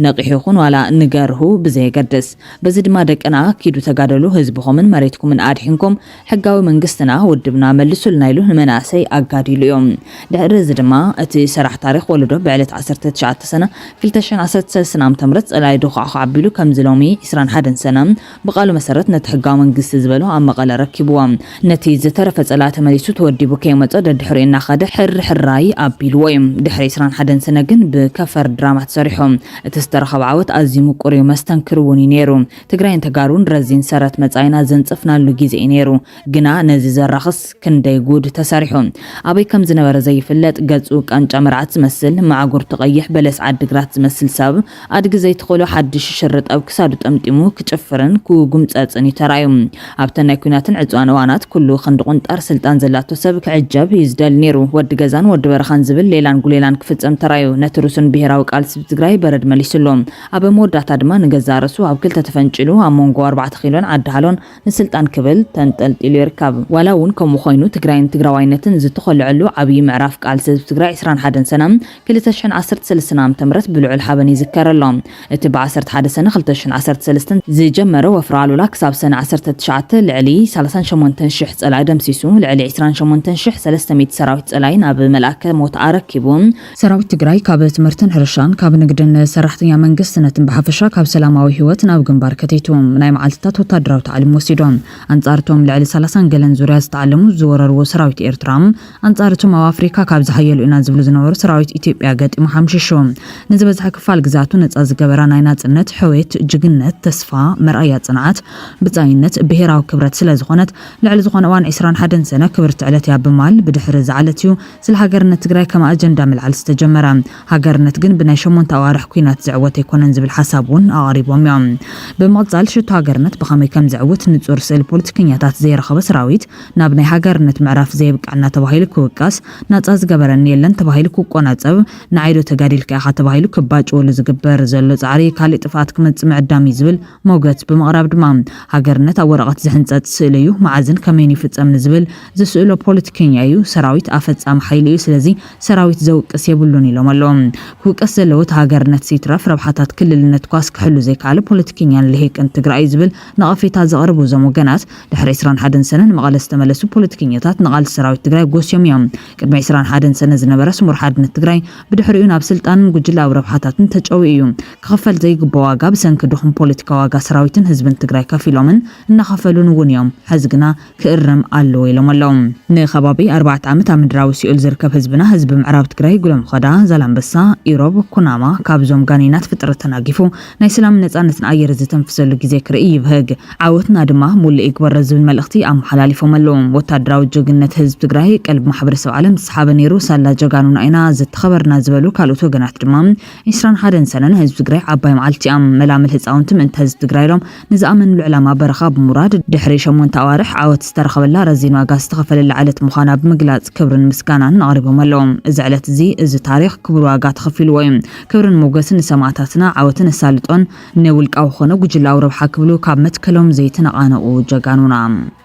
ነቂሑ ይኹን ዋላ ንገርሁ ብዘየገድስ በዚ ድማ ደቅና ኪዱ ተጋደሉ ህዝብኹምን መሬትኩምን ኣድሒንኩም ሕጋዊ መንግስትና ውድብና መልሱልና ኢሉ ንመናእሰይ ኣጋዲሉ እዩ። ድሕሪ እዚ ድማ እቲ ሰራሕ ታሪኽ ወለዶ ብዕለት ዓሰርተ ትሽዓተ ሰነ ክልተ ሽሕን ዓሰርተ ሰለስተን ዓመተ ምህረት ፀላኢ ዶዃዕዃዕ ኣቢሉ ከምዚ ሎሚ ዕስራን ሓደን ሰነ ብቃሉ መሰረት ነቲ ሕጋዊ መንግስቲ ዝበሎ ኣብ መቐለ ኣረኪብዎ ነቲ ዝተረፈ ፀላኢ ተመሊሱ ተወዲቡ ከይመፆ ደድሕሪኡ እናኸደ ሕር ሕራይ ኣቢልዎ እዩ። ድሕሪ ዕስራን ሓደን ሰነ ግን ብከፈር ድራማ ተሰሪሑ እቲ ዝተረኸበ ዓወት ኣዝዩ ምቁር እዩ መስተንክር እውን እዩ ነይሩ። ትግራይን ተጋሩን ረዚን ሰረት መጻኢና ዘንጸፍናሉ ግዜ እዩ ነይሩ። ግና ነዚ ዘራኽስ ክንደይ ጉድ ተሰሪሑ። ኣበይ ከም ዝነበረ ዘይፍለጥ ገጹ ቃንጫ መርዓት ዝመስል፣ ማዕጉርቱ ቀይሕ በለስ ዓዲግራት ዝመስል ሰብ፣ ኣድጊ ዘይትኽእሎ ሓድሽ ሽርጥ ኣብ ክሳዱ ጠምጢሙ ክጭፍርን ክጉምጸጽን እዩ ተራእዩ። ኣብተን ናይ ኲናትን ዕጽዋን እዋናት ኩሉ ክንዲ ቁንጣር ስልጣን ዘላቶ ሰብ ክዕጀብ እዩ ዝደሊ ነይሩ። ወዲ ገዛን ወዲ በረኻን ዝብል ሌላን ጉሌላን ክፍጸም ተራእዩ። ነቲ ርሱን ብሄራዊ ቃልሲ ትግራይ በረድ መሊሱሉ። ኣብ መወዳእታ ድማ ንገዛእ ርእሱ ኣብ ክልተ ተፈንጪሉ ኣብ ሞንጎ ኣርባዕተ ኪሎን ዓዲ ሃሎን ንስልጣን ክብል ተንጠልጢሉ ይርከብ። ዋላ እውን ከምኡ ኮይኑ ትግራይን ትግራዋይነትን ዝተኾለዐሉ ዓብዪ ምዕራፍ ቃልሲ ህዝቢ ትግራይ ዕስራን ሓደን ሰነ ክልተ ሽሕን ዓሰርተ ሰለስተን ዓመተ ምህረት ብልዑል ሓበን ይዝከር ኣሎ። እቲ ብ ዓሰርተ ሓደ ሰነ ክልተ ሽሕን ዓሰርተ ሰለስተን ዝጀመረ ወፍሪ ኣሉላ ክሳብ ሰነ ዓሰርተ ትሽዓተ ልዕሊ ሰላሳን ሸሞንተን ሽሕ ፀላኢ ደምሲሱ ልዕሊ ዕስራን ሸሞንተን ሽሕ ሰለስተ ሚእቲ ሰራዊት ፀላኢ ናብ መልኣከ ሞት ኣረኪቡ ሰራዊት ትግራይ ካብ ትምህርትን ሕርሻን ካብ ንግድን ሰራሕተኛ መንግስትነትን ብሓፈሻ ካብ ሰላማዊ ህይወት ናብ ግንባር ከተይቱ ናይ መዓልትታት ወታደራዊ ታዕሊም ወሲዶ ኣንጻር እቶም ልዕሊ ሰላሳን ገለን ዙርያ ዝተዓለሙ ዝወረርዎ ሰራዊት ኤርትራ ኣንጻር እቶም ኣብ ኣፍሪካ ካብ ዝሓየሉ ኢና ዝብሉ ዝነበሩ ሰራዊት ኢትዮጵያ ገጢሙ ሓምሺሹ ንዝበዝሐ ክፋል ግዝኣቱ ነጻ ዝገበራ ናይ ናጽነት ሕውየት ጅግነት ተስፋ መርኣያ ጽንዓት ብጻይነት ብሄራዊ ክብረት ስለዝኾነት ልዕሊ ዝኾነ እዋን ዕስራን ሓደን ሰነ ክብርቲ ዕለት እያ ብማል ብድሕሪ ዝዓለት እዩ ስለ ሃገርነት ትግራይ ከም ኣጀንዳ ምልዓል ዝተጀመረ፣ ሃገርነት ግን ብናይ ሸሞንተ ኣዋርሕ ኲናት ዝዕወት ኣይኮነን ዝብል ሓሳብ እውን ኣቐሪቦም እዮም። ብምቕፃል ሽቶ ሃገርነት ብኸመይ ከም ዝዕውት ንፁር ስእሊ ፖለቲከኛታት ዘይረኸበ ሰራዊት ናብ ናይ ሃገርነት ምዕራፍ ዘየብቀዐና ተባሂሉ ክውቀስ፣ ናፃ ዝገበረኒ የለን ተባሂሉ ክቆናፀብ፣ ንዓይ ዶ ተጋዲልካ ኢኻ ተባሂሉ ክባጭወሉ ዝግበር ዘሎ ፃዕሪ ካሊእ ጥፍኣት ክመፅእ ምዕዳም እዩ ዝብል መውገት ብምቕራብ ድማ ሃገርነት ኣብ ወረቐት ዝሕንፀፅ ስእሊ እዩ፣ መዓዝን ከመይን ይፍፀም ንዝብል ዝስእሎ ፖለቲከኛ ኢዩ ሰራዊት ኣፈጻሚ ሓይሊ ኢዩ ስለዚ ሰራዊት ዘውቅስ የብሉን ኢሎም ኣለዉ ክውቀስ ዘለዎ እቲ ሃገርነትስ ይትረፍ ረብሓታት ክልልነትኳስ ክሕሉ ዘይከኣለ ፖለቲከኛን ሊሂቅን ትግራይ ኢዩ ዝብል ነቐፌታ ዘቕርቡ እዞም ወገናት ድሕሪ ዕስራን ሓደን ሰነ ንመቐለ ዝተመለሱ ፖለቲከኛታት ንቓልሲ ሰራዊት ትግራይ ጎስዮም ኢዮም ቅድሚ ዕስራን ሓደን ሰነ ዝነበረ ስሙር ሓድነት ትግራይ ብድሕሪኡ ናብ ስልጣንን ጉጅለኣዊ ረብሓታትን ተጨውዩ ኢዩ ክኽፈል ዘይግብኦ ዋጋ ብሰንኪ ድኹም ፖለቲካ ዋጋ ሰራዊትን ህዝብን ትግራይ ከፊሎምን እናኸፈሉን እውን ኢዮም ሐዚ ግና ክእረም ኣለዎ ኢሎም ኣለው። ንከባቢ ኣርባዕተ ዓመት ኣብ ምድራዊ ሲኦል ዝርከብ ህዝብና ህዝቢ ምዕራብ ትግራይ ጉለምኾዳ፣ ዛላምበሳ፣ ኢሮብ፣ ኩናማ ካብዞም ጋኔናት ፍጥረት ተናጊፉ ናይ ሰላምን ነፃነትን ኣየር ዝተንፍሰሉ ግዜ ክርኢ ይብህግ። ዓወትና ድማ ሙሉእ ይግበሮ ዝብል መልእኽቲ ኣመሓላሊፎም ኣለው። ወታደራዊ ጀግንነት ህዝቢ ትግራይ ቀልቢ ማሕበረሰብ ዓለም ዝሰሓበ ነይሩ ሳላ ጀጋኑና ኢና ዝተኸበርና ዝበሉ ካልኦት ወገናት ድማ ዒስራን ሓደን ሰነ ንህዝቢ ትግራይ ዓባይ መዓልቲ እያ። መላምል ህፃውንቲ ምእንተ ህዝቢ ትግራይ ኢሎም ንዝኣመንሉ ዕላማ በረኻ ብምውራድ ድሕሪ ሸሞንተ ኣዋርሕ ዓወት ዝተረኸበላ ረዚን ዋጋ ዝተኸፈለላ ዕለት ምዃና ብምግላፅ ክብርን ምስጋናን ኣቕሪቦም ኣለው። እዚ ዕለት እዚ እዚ ታሪኽ ክቡር ዋጋ ተኸፊልዎ እዩ። ክብርን ሞገስን ንሰማእታትና፣ ዓወትን ኣሳልጦን ንውልቃዊ ኮነ ጉጅላዊ ረብሓ ክብሉ ካብ መትከሎም ዘይተነቓነቑ ጀጋኑና።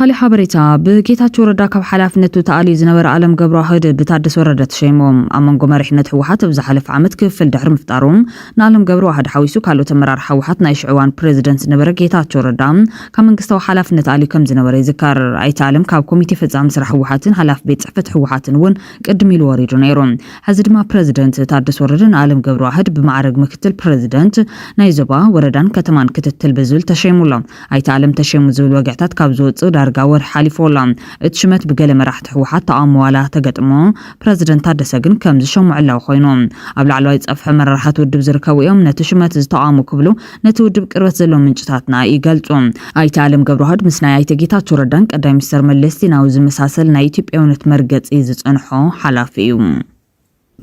ብካሊእ ሓበሬታ ብጌታቸው ረዳ ካብ ሓላፍነቱ ተኣልዩ ዝነበረ ኣለም ገብረዋህድ ብታደሰ ወረደ ተሸይሙ ኣብ መንጎ መሪሕነት ህወሓት ኣብ ዝሓለፈ ዓመት ክፍል ድሕሪ ምፍጣሩ ንኣለም ገብረዋህድ ሓዊሱ ካልኦት ኣመራርሓ ህወሓት ናይ ሽዕዋን ፕሬዚደንት ዝነበረ ጌታቸው ረዳ ካብ መንግስታዊ ሓላፍነት ኣልዩ ከምዝነበረ ይዝከር። ኣይተ ኣለም ካብ ኮሚቴ ፈፃሚ ስራሕ ህወሓትን ሓላፊ ቤት ፅሕፈት ህወሓትን እውን ቅድም ኢሉ ወሪዱ ነይሩ። ሐዚ ድማ ፕረዚደንት ታደሰ ወረደ ንኣለም ገብረዋህድ ብማዕረግ ምክትል ፕረዚደንት ናይ ዞባ፣ ወረዳን ከተማን ክትትል ብዝብል ተሸይሙ ኣሎ። ኣይተ ኣለም ተሸይሙ ዝብል ወግዕታት ካብ ዝወፅእ ዳርጋ ወርሒ ሓሊፉዎ ኣሎ። እቲ ሽመት ብገለ መራሕቲ ህወሓት ተቓውሞ ዋላ ተገጥሞ ፕረዚደንት ታደሰ ግን ከምዝሸሙ ዕላዊ ኮይኑ። ኣብ ላዕለዋይ ፀፍሒ ኣመራርሓ እቲ ውድብ ዝርከቡ እዮም ነቲ ሽመት ዝተቓወሙ ክብሉ ነቲ ውድብ ቅርበት ዘለዎም ምንጭታትና ይገልጹ። ኣይተ ኣለም ገብረዋህድ ምስ ናይ ኣይተ ጌታቸው ረዳን ቀዳማይ ሚኒስተር መለስ ዜናዊ ዝመሳሰል ናይ ኢትዮጵያውነት መርገጺ ዝጸንሖ ሓላፊ እዩ።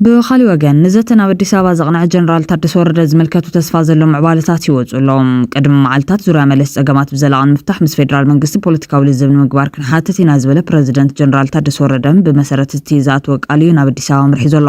ብኻልእ ወገን፣ ንዘተ ናብ ኣዲስ ኣበባ ዘቕነዐ ጀነራል ታደሰ ወረደ ዝምልከቱ ተስፋ ዘለዎም ምዕባለታት ይወጹ ኣለዉ። ቅድሚ መዓልታት፣ ዙርያ መለስ ጸገማት ብዘላቒ ንምፍታሕ ምስ ፌደራል መንግስቲ ፖለቲካዊ ልዝብ ንምግባር ክንሓትት ኢና ዝበለ ፕረዚደንት ጀነራል ታደሰ ወረደ፣ ብመሰረት እቲ ዝኣተወ ቃል እዩ ናብ ኣዲስ ኣበባ ኣምሪሑ ዘሎ።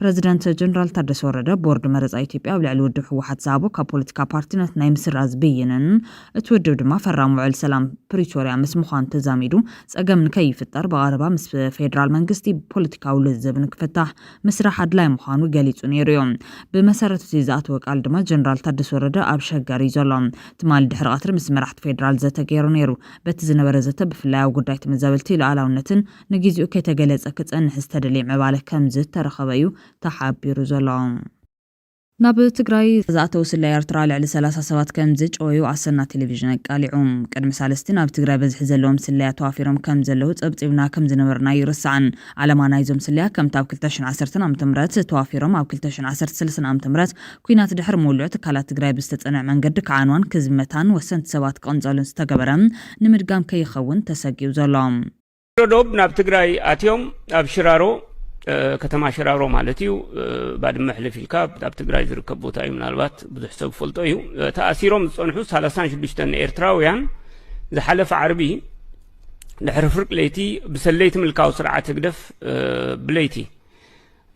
ፕረዚደንት ጀነራል ታደሰ ወረደ፣ ቦርድ መረፃ ኢትዮጵያ ኣብ ልዕሊ ውድብ ህወሓት ዝሃቦ ካብ ፖለቲካ ፓርቲነት ናይ ምስራዝ ብይንን እቲ ውድብ ድማ ፈራሚ ውዕል ሰላም ፕሪቶርያ ምስ ምዃኑ ተዛሚዱ ፀገም ንከይፍጠር ብቐረባ ምስ ፌዴራል መንግስቲ ፖለቲካዊ ልዝብ ንክፍታሕ ምስራሕ ኣድላይ ምዃኑ ገሊፁ ነይሩ እዩ። ብመሰረት እቲ ዝኣተወ ቃል ድማ ጀነራል ታደሰ ወረደ ኣብ ሸገር እዩ ዘሎ። ትማሊ ድሕሪ ቀትሪ ምስ መራሕቲ ፌዴራል ዘተ ገይሩ ነይሩ። በቲ ዝነበረ ዘተ ብፍላይ ኣብ ጉዳይ ተመዛበልቲ፣ ሉኣላውነትን ንጊዚኡ ከይተገለጸ ክጸንሕ ዝተደልየ ምዕባለ ከምዝተረኸበ'ዩ ተሓቢሩ ዘሎ። ናብ ትግራይ ዝኣተው ስለያ ኤርትራ ልዕሊ ሰላሳ ሰባት ከምዝጨወዩ ኣሰና ቴሌቪዥን ኣቃሊዑ። ቅድሚ ሳልስቲ ናብ ትግራይ በዝሒ ዘለዎም ስለያ ተዋፊሮም ከምዘለው ጸብጺብና ከምዝነበርና ኣይርሳዕን። ዓላማ ናይዞም ስለያ ከምቲ ኣብ ክልተ ሽሕን ዓሰርተን ዓመተ ምህረት ተዋፊሮም ኣብ ክልተ ሽሕን ዓሰርተ ሰለስተን ዓመተ ምህረት ኩናት ድሕሪ ምውልዑ ትካላት ትግራይ ብዝተጸንዐ መንገዲ ክዓንዋን ክዝመታን ወሰንቲ ሰባት ክቕንጸሉን ዝተገበረ ንምድጋም ከይኸውን ተሰጊኡ ዘሎ ዶብ ናብ ትግራይ ኣትዮም ኣብ ሽራሮ ከተማ ሽራሮ ማለት እዩ ባድመ ሕልፍ ኢልካ ኣብ ትግራይ ዝርከብ ቦታ እዩ ምናልባት ብዙሕ ሰብ ፈልጦ እዩ ተኣሲሮም ዝፀንሑ 36 ኤርትራውያን ዝሓለፈ ዓርቢ ድሕሪ ፍርቂ ለይቲ ብሰለይቲ ምልካዊ ስርዓት ህግደፍ ብለይቲ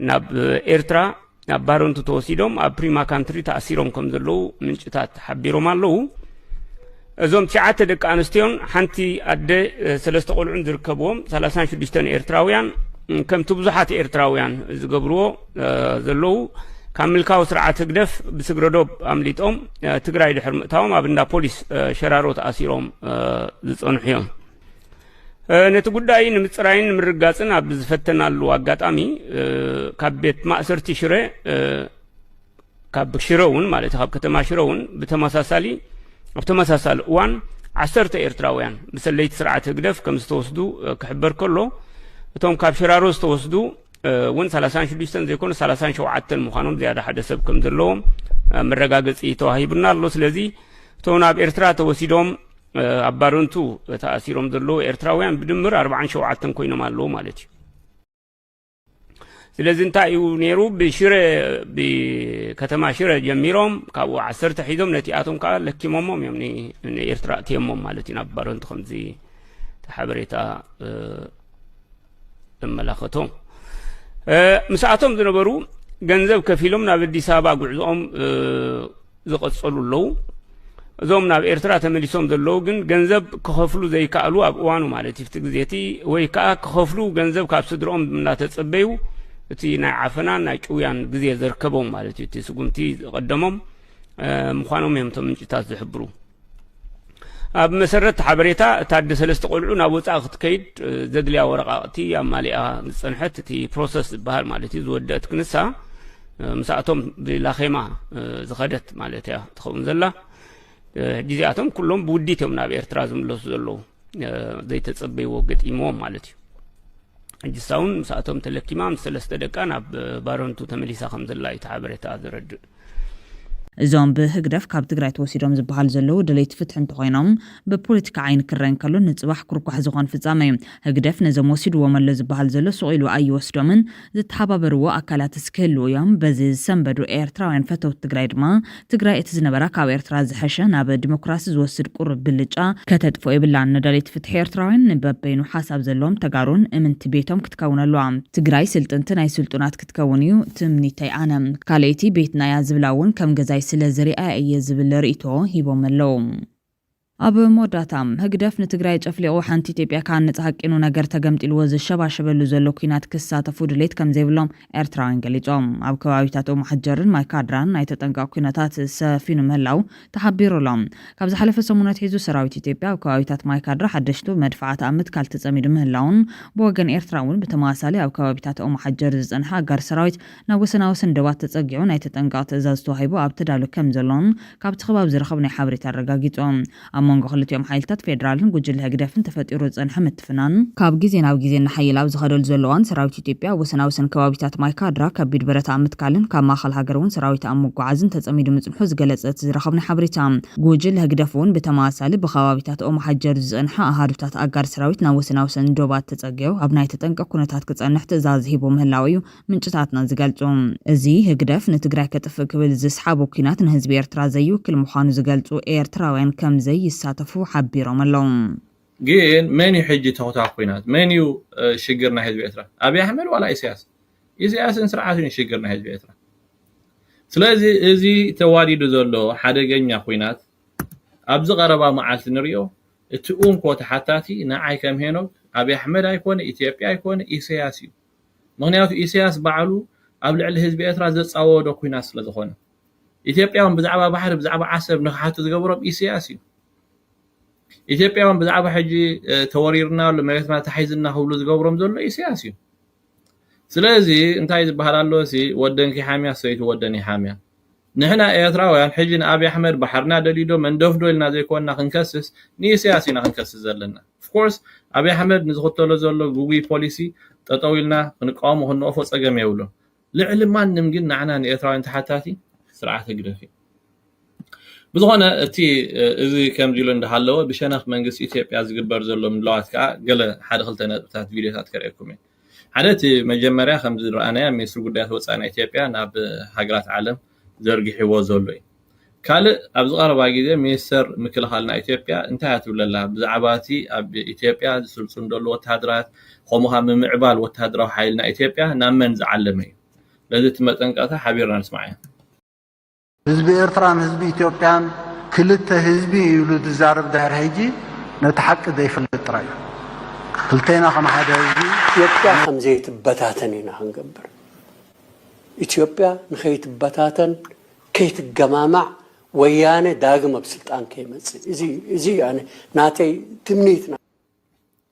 ናብ ኤርትራ ናብ ባረንቱ ተወሲዶም ኣብ ፕሪማ ካንትሪ ተኣሲሮም ከም ዘለዉ ምንጭታት ሓቢሮም ኣለዉ እዞም ትሽዓተ ደቂ ኣንስትዮን ሓንቲ ኣደ ሰለስተ ቆልዑን ዝርከብዎም ሰላሳን ሽዱሽተን ኤርትራውያን ከምቲ ብዙሓት ኤርትራውያን ዝገብርዎ ዘለዉ ካብ ምልካዊ ስርዓት ህግደፍ ብስግረዶብ ኣምሊጦም ትግራይ ድሕሪ ምእታዎም ኣብ እንዳ ፖሊስ ሸራሮ ተኣሲሮም ዝፀንሑ እዮም ነቲ ጉዳይ ንምፅራይን ንምርጋፅን ኣብ ዝፈተናሉ ኣጋጣሚ ካብ ቤት ማእሰርቲ ሽረ ካብ ሽረ እውን ማለት ካብ ከተማ ሽረ እውን ብተመሳሳሊ ኣብ ተመሳሳሊ እዋን ዓሰርተ ኤርትራውያን ብሰለይቲ ስርዓት ህግደፍ ከም ዝተወስዱ ክሕበር ከሎ እቶም ካብ ሽራሮ ዝተወስዱ እውን 36 ዘይኮኑ 37 ምዃኖም ዝያዳ ሓደ ሰብ ከም ዘለዎም መረጋገፂ ተዋሂቡና ኣሎ ስለዚ እቶም ናብ ኤርትራ ተወሲዶም ኣብ ባረንቱ ተኣሲሮም ዘለዉ ኤርትራውያን ብድምር ኣርብዓን ሸውዓተን ኮይኖም ኣለዉ ማለት እዩ ስለዚ እንታይ እዩ ነይሩ ብሽረ ብከተማ ሽረ ጀሚሮም ካብኡ ዓሰርተ ሒዞም ነቲኣቶም ከዓ ለኪሞሞም እዮም ንኤርትራ እትየሞም ማለት እዩ ናብ ባረንቱ ከምዚ ሓበሬታ እመላኸቶ ምስኣቶም ዝነበሩ ገንዘብ ከፊሎም ናብ ኣዲስ ኣበባ ጉዕዞኦም ዝቐጸሉ ኣለዉ እዞም ናብ ኤርትራ ተመሊሶም ዘለዉ ግን ገንዘብ ክኸፍሉ ዘይከኣሉ ኣብ እዋኑ ማለት እዩ እቲ ግዜ እቲ ወይ ከዓ ክኸፍሉ ገንዘብ ካብ ስድሮኦም እናተጸበዩ እቲ ናይ ዓፈናን ናይ ጭውያን ግዜ ዘርከቦም ማለት እዩ እቲ ስጉምቲ ዝቐደሞም ምዃኖም እዮም እቶም ምንጭታት ዝሕብሩ ኣብ መሰረት ሓበሬታ እታ ኣደ ሰለስተ ቆልዑ ናብ ወፃኢ ክትከይድ ዘድልያ ወረቃቕቲ ኣማሊኣ ዝፀንሐት እቲ ፕሮሰስ ዝበሃል ማለት እዩ ዝወደአት ክንሳ ምስኣቶም ብላኼማ ዝኸደት ማለት እያ ትኸውን ዘላ ሕጂ እዚኣቶም ኩሎም ብውዲት እዮም ናብ ኤርትራ ዝምለሱ ዘለዉ ዘይተፀበይዎ ገጢምዎም ማለት እዩ ሕጂ ሳውን ምስኣቶም ተለኪማ ምስ ሰለስተ ደቃ ናብ ባረንቱ ተመሊሳ ከም ዘላ እዩ እቲ ሓበሬታ ዘረድእ እዞም ብህግደፍ ካብ ትግራይ ተወሲዶም ዝበሃሉ ዘለዉ ደለይቲ ፍትሒ እንተኾይኖም ብፖለቲካ ዓይኒ ክረእ እንከሎ ንፅባሕ ኩርኳሕ ዝኾን ፍፃመ እዩ። ህግደፍ ነዞም ወሲድዎም ኣሎ ዝበሃል ዘሎ ሱቕ ኢሉ ኣይወስዶምን። ዝተሓባበርዎ ኣካላትስ ክህልዉ እዮም። በዚ ዝሰንበዱ ኤርትራውያን ፈተውቲ ትግራይ ድማ ትግራይ እቲ ዝነበራ ካብ ኤርትራ ዝሐሸ ናብ ዲሞክራሲ ዝወስድ ቁሩብ ብልጫ ከተጥፍኦ የብላን። ንደለይቲ ፍትሒ ኤርትራውያን ንበበይኑ ሓሳብ ዘለዎም ተጋሩን እምንቲ ቤቶም ክትከውን ኣለዋ። ትግራይ ስልጥንቲ ናይ ስልጡናት ትከውን እዩ ትምኒተይ ኣነ። ካልኣይቲ ቤትና እያ ዝብላ እውን ከም ገዛይ ስለ ዝሪኣያ እየ ዝብል ርኢቶ ሂቦም ኣለው። ኣብ መወዳእታ፣ ህግደፍ ንትግራይ ጨፍሊቑ ሓንቲ ኢትዮጵያ ክሃንጽ ሃቂኑ ነገር ተገምጢልዎ ዝሸባሸበሉ ዘሎ ኲናት ክሳተፉ ድሌት ከም ዘይብሎም ኤርትራውያን ገሊጾም። ኣብ ከባቢታት ኦምሓጀርን ማይካድራን ናይ ተጠንቀቕ ኲነታት ሰፊኑ ምህላው ተሓቢሩ ኣሎ። ካብ ዝሓለፈ ሰሙን ኣትሒዙ ሰራዊት ኢትዮጵያ ኣብ ከባቢታት ማይ ካድራ ሓደሽቱ መድፍዓት ኣብ ምትካል ተጸሚዱ ምህላዉን ብወገን ኤርትራ እውን ብተመሳሳሊ ኣብ ከባቢታት ኦሞሓጀር ዝጸንሐ ኣጋር ሰራዊት ናብ ወሰናወሰን ዶባት ተጸጊዑ ናይ ተጠንቀቕ ትእዛዝ ተዋሂቡ ኣብ ተዳሉ ከምዘሎን ካብቲ ከባቢ ዝረኸብናዮ ሓበሬታ ኣረጋጊጹ። ኣብ መንጎ ክልቲኦም ሓይልታት ፌደራልን ጉጅለ ህግደፍን ተፈጢሩ ዝጸንሐ ፍናን፣ ካብ ግዜ ናብ ግዜ እናሓየለ ኣብ ዝኸደሉ ዘሎ እዋን፣ ሰራዊት ኢትዮጵያ ኣብ ወሰና ወሰን ከባቢታት ማይ ካድራ ከቢድ ብረት ኣብ ምትካልን ካብ ማእኸል ሃገር እውን ሰራዊት ኣብ ምጉዓዝን ተፀሚዱ ምፅንሑ ዝገለፀ እቲ ዝረኸብናዮ ሓበሬታ፣ ጉጅለ ህግደፍ እውን ብተመሳሳሊ ብከባቢታት ኦምሓጀር ዝፀንሐ ኣሃዱታት ኣጋር ሰራዊት ናብ ወሰና ወሰን ዶባት ተፀጊዑ ኣብ ናይ ተጠንቀቕ ኩነታት ክፀንሕ ትእዛዝ ሂቡ ምህላው እዩ ምንጭታትና ዝገልፁ። እዚ ህግደፍ ንትግራይ ከጥፍእ ክብል ዝስሓቦ ኲናት ንህዝቢ ኤርትራ ዘይውክል ምዃኑ ዝገልፁ ኤርትራውያን ከምዘይሳተፉ ሓቢሮም ኣለው። ግን መን እዩ ሕጂ ተኹታኽ ኩናት መን እዩ ሽግር ናይ ህዝቢ ኤርትራ ኣብይ ኣሕመድ ዋላ ኢሳያስ ኢሳያስን ስርዓቱን ሽግር ናይ ህዝቢ ኤርትራ ስለዚ እዚ ተዋዲዱ ዘሎ ሓደገኛ ኩናት ኣብዚ ቀረባ መዓልቲ ንሪኦ እቲ ኡንኮ ተሓታቲ ንዓይ ከም ሄኖክ ኣብይ ኣሕመድ ኣይኮነ ኢትዮጵያ ኣይኮነ ኢሳያስ እዩ ምክንያቱ ኢሳያስ ባዕሉ ኣብ ልዕሊ ህዝቢ ኤርትራ ዘጻወዶ ኩናት ስለ ዝኾነ ኢትዮጵያውን ብዛዕባ ባሕሪ ብዛዕባ ዓሰብ ንክሓቱ ዝገበሮም ኢሳያስ እዩ ኢትዮጵያውያን ብዛዕባ ሕጂ ተወሪርና ኣሎ መሬትና ተሓይዝና ክብሉ ዝገብሮም ዘሎ ኢሰያስ እዩ ስለዚ እንታይ ዝበሃል ኣሎ ሲ ወደን ኪሓምያ ሰይቱ ወደን ይሓምያ ንሕና ኤርትራውያን ሕጂ ንኣብይ ኣሕመድ ባሕርና ደልዩ ዶ መንደፍዶ ኢልና ዘይኮንና ክንከስስ ንኢሰያስ ኢና ክንከስስ ዘለና ኦፍኮርስ ኣብይ ኣሕመድ ንዝኽተሎ ዘሎ ግጉይ ፖሊሲ ጠጠው ኢልና ክንቃወሞ ክንወቅፎ ጸገም የብሉን ልዕሊ ማንም ግን ንዓና ንኤርትራውያን ተሓታቲ ስርዓት ህግደፍ እዩ። ብዝኾነ እቲ እዚ ከምዚ ኢሉ እንዳሃለወ ብሸነኽ መንግስቲ ኢትዮጵያ ዝግበር ዘሎ ምድላዋት ከኣ ገለ ሓደ ክልተ ነጥብታት ቪድዮታት ከርእየኩም እየ። ሓደ እቲ መጀመርያ ከምዚ ዝረኣናዮ ሚኒስትሪ ጉዳያት ወጻኢ ናይ ኢትዮጵያ ናብ ሃገራት ዓለም ዘርጊሕዎ ዘሎ እዩ። ካልእ ኣብዚ ቀረባ ግዜ ሚኒስተር ምክልኻልና ኢትዮጵያ እንታይ እያ ትብለላ ብዛዕባ እቲ ኣብ ኢትዮጵያ ዝስልጥኑ ዘለዉ ወተሃደራት ከምኡ ከኣ ምምዕባል ወተሃደራዊ ሓይልና ኢትዮጵያ ናብ መን ዝዓለመ እዩ ነዚ እቲ መጠንቀቕታ ሓቢርና ንስማዕ ህዝቢ ኤርትራን ህዝቢ ኢትዮጵያን ክልተ ህዝቢ እዩ ኢሉ ዝዛረብ ድሕሪ ሕጂ ነቲ ሓቂ ዘይፍልጥ ጥራይ እዩ ክልቴና ከም ሓደ ህዝቢ ኢትዮጵያ ከም ዘይትበታተን ኢና ክንገብር ኢትዮጵያ ንኸይትበታተን ከይትገማማዕ ወያነ ዳግም ኣብ ስልጣን ከይመጽእ እዚ እዩ እዚ እዩ ኣነ ናተይ ትምኒት ናይ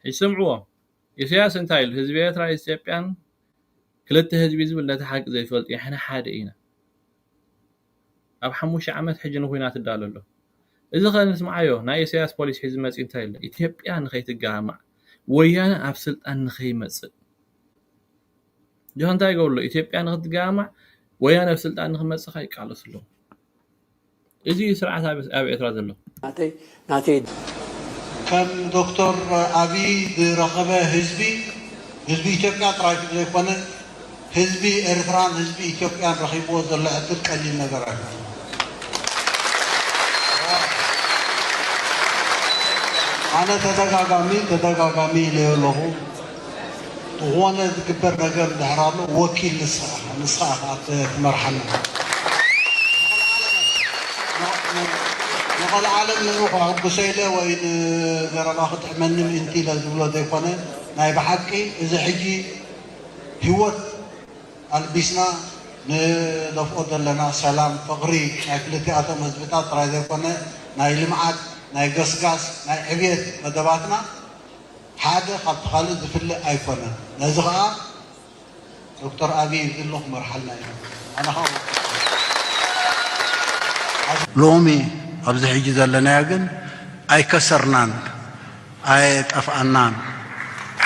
ሕጂ ስምዕዎ ኢሰያስ እንታይ ኢሉ ህዝቢ ኤርትራ ኢስትዮጵያን ክልተ ህዝቢ ዝብል ነቲ ሓቂ ዘይፈልጥ እዩ ሕና ሓደ ኢና ኣብ ሓሙሽተ ዓመት ሕጂ ንኹናት ይዳሎ ኣሎ እዚ ከ ንስምዓዮ ናይ ኢሰያስ ፖሊሲ ሒዙ መጽዩ እንታይ ኢሉ ኢትዮጵያ ንኸይትገማማዕ ወያነ ኣብ ስልጣን ንኸይመጽእ ጆሃ እንታይ ይገብሩ ኣሎ ኢትዮጵያ ንክትጋማዕ ወያነ ኣብ ስልጣን ንክመፅእ ከኣ ይቃለሱ ኣለዉ እዚ እዩ ስርዓት ኣብ ኤርትራ ዘሎ። ናተይ ከም ዶክተር ኣብይ ዝረኸበ ህዝቢ ህዝቢ ኢትዮጵያ ጥራይ ከምዘይኮነ ህዝቢ ኤርትራን ህዝቢ ኢትዮጵያን ረኺብዎ ዘሎ ዕድል ቀሊል ነገር ኣይኮነን። ኣነ ተደጋጋሚ ተደጋጋሚ ኢለዮ ኣለኹ። ብኾነ ዝግበር ነገር እንድሕር ኣሎ ወኪል ንስኻ ኢኻ ንስኻ ኢኻ ትመርሓና ንቐልዓለም ንዑ ከሕጉሶ ኢለ ወይ ንዘረባ ክጥዕመኒ ምእንቲ ኢለ ዝብሎ ዘይኮነ ናይ ብሓቂ እዚ ሕጂ ህይወት ኣልቢስና ንደፍኦ ዘለና ሰላም ፍቕሪ ናይ ክልቲኣቶም ህዝብታት ጥራይ ዘይኮነ ናይ ልምዓት ናይ ገስጋስ ናይ ዕብየት መደባትና ሓደ ካብቲ ካልእ ዝፍለ ኣይኮነን ነዚ ከኣ ዶክተር ኣብይ እዚ ኣሎ ክመርሓልና እዩ ነይሩ ኣነ ከኣ ወኪልካ ሎሚ ኣብዚ ሕጂ ዘለናዮ ግን ኣይከሰርናን ኣየጠፍኣናን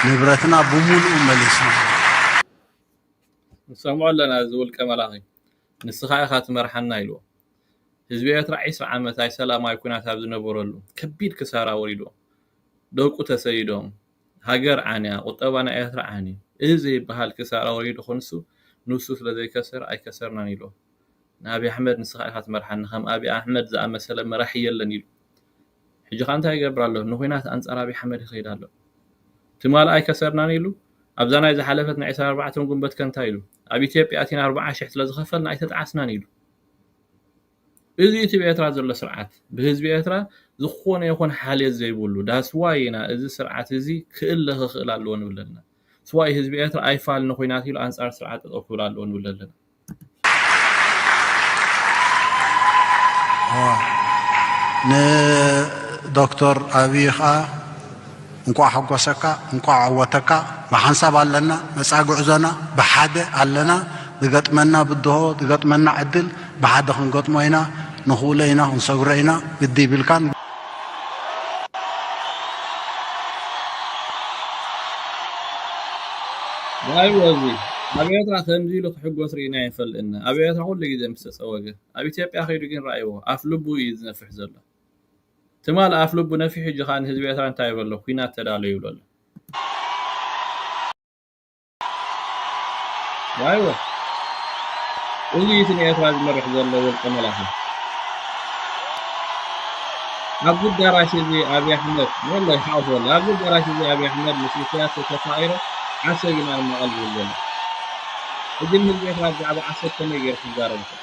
ንብረትና ብሙሉኡ መሊስና ኢና። ንሰምዖ ኣለና እዚ ውልቀ መላኺ ንስኻ ኢኻ ትመርሓና ኢልዎ ህዝቢ ኤርትራ ዒስራ ዓመት ኣይሰላማዊ ኩናት ኣብ ዝነበረሉ ከቢድ ክሳራ ኣውሪድዎ ደቁ ተሰይዶም ሃገር ዓንያ ቁጠባ ናይ ኤርትራ ዓንዩ እህ ዘይብሃል ክሳራ ወሪዱ ክንሱ ኑሱ ስለ ዘይከሰረ ኣይከሰርናን ኢሎ ንኣብይ ኣሕመድ ንስኻ ኢኻ ትመርሓኒ ከም ኣብይ ኣሕመድ ዝኣመሰለ መራሒ የለን ኢሉ ሕጂ ከኣ እንታይ ይገብር ኣሎ ንኹናት ኣንጻር ኣብይ ኣሕመድ ይኸይድ ኣሎ ትማል ኣይከሰርናን ኢሉ ኣብዛ ናይ ዝሓለፈት ናይ ዕስራን ኣርባዕተን ጉንበት ከ እንታይ ኢሉ ኣብ ኢትዮጵያ ኣቲና ኣርብዓ ሽሕ ስለ ዝኸፈልና ኣይተጣዓስናን ኢሉ እዚ እቲ ብ ኤርትራ ዘሎ ስርዓት ብህዝቢ ኤርትራ ዝኾነ ይኹን ሓልዮት ዘይብሉ ዳስ ዋይ ኢና እዚ ስርዓት እዚ ክእለ ክኽእል ኣለዎ ንብል ዘለና ዳስ ዋይ ህዝቢ ኤርትራ ኣይፋል ንኹናት ኢሉ ኣንጻር ስርዓት ጠጠው ክብል ኣለዎ ንብል ዘለና። ን ዶክቶር ኣብይ ከኣ እንኳዕ ሓጎሰካ እንኳዕ ዓወተካ ብሓንሳብ ኣለና መጻኢ ጉዕዞና ብሓደ ኣለና ዝገጥመና ብድሆ ዝገጥመና ዕድል ብሓደ ክንገጥሞ ኢና ንኽእሎ ኢና ክንሰግሮ ኢና ግዲ ይብልካን ዋይ ወዚ ኣብ ኤርትራ ከምዚ ኢሉ ክሕጎስ ርኢና ይፈልጥና ኣብ ኤርትራ ኩሉ ግዜ ምስ ተጸወገ ኣብ ኢትዮጵያ ከይዱ ግን ረኣይዎ ኣፍ ልቡ እዩ ዝነፍሕ ዘሎ ትማል ኣፍ ልቡ ነፊሑ ሕጂ ከኣ ንህዝቢ ኤርትራ እንታይ በሎ ኲናት ተዳለዉ ይብሎ ኣሎ። እዚ እቲ ንኤርትራ ዝመርሕ ዘሎ ውልቀ መላኺ ኣብዚ ኣዳራሽ እዚ ኣብይ ኣሕመድ ወላ ይሓቁፍ ወላ ኣብዚ ኣዳራሽ እዚ ኣብይ ኣሕመድ ምስ ኢሳያስ ተተፋቂረ ዓሰብ ኢና ንመቐል ዝብል ዘሎ ሕጂ ንህዝቢ ኤርትራ ብዛዕባ ዓሰብ ከመይ ገይሩ ክዛረብ ይኽእል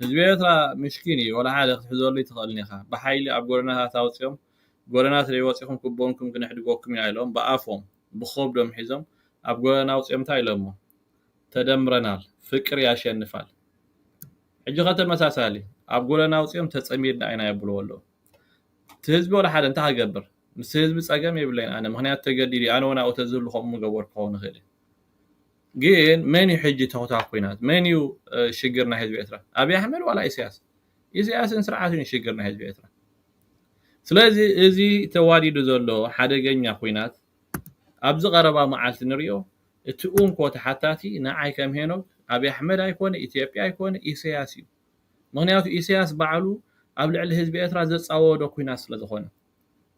ህዝቢ ኤርትራ ምስኪን ኢዩ ወላ ሓደ ክትሕዘሉ ኣይትኽእልን ኢኻ ብሓይሊ ኣብ ጎደናታት ኣውጺኦም ጎደናት ደይ ወጺኹም ክቦንኩም ክነሕድጎኩም ኢና ኢሎም ብኣፎም ብኾብዶም ሒዞም ኣብ ጎደና ኣውጺኦም እንታይ ኢሎሞ ተደምረናል ፍቅር ያሸንፋል ሕጂ ከ ተመሳሳሊ ኣብ ጎደና ኣውጺኦም ተጸሚድና ኢና የብልዎ ኣለዉ እቲ ህዝቢ ወላ ሓደ እንታይ ክገብር ምስ ህዝቢ ጸገም የብለይን ኣነ ምክንያቱ ተገዲዱ ኣነ ውን ኣብኡ ተዝህሉ ከምኡ ምገበርኩ ክኸውን ይኽእል እዩ ግን መን እዩ ሕጂ ተኹታ ኩናት መን እዩ ሽግር ናይ ህዝቢ ኤርትራ ኣብይ ኣሕመድ ዋላ ኢሳያስ ኢሳያስን ስርዓቱን እዩ ሽግር ናይ ህዝቢ ኤርትራ ስለዚ እዚ ተዋዲዱ ዘሎ ሓደገኛ ኩናት ኣብዚ ቀረባ መዓልቲ ንሪኦ እቲ ኡንኮ ተሓታቲ ንዓይ ከም ሄኖክ ኣብይ ኣሕመድ ኣይኮነ ኢትዮጵያ ኣይኮነ ኢሳያስ እዩ ምክንያቱ ኢሳያስ ባዕሉ ኣብ ልዕሊ ህዝቢ ኤርትራ ዘጻወዶ ኩናት ስለ ዝኾነ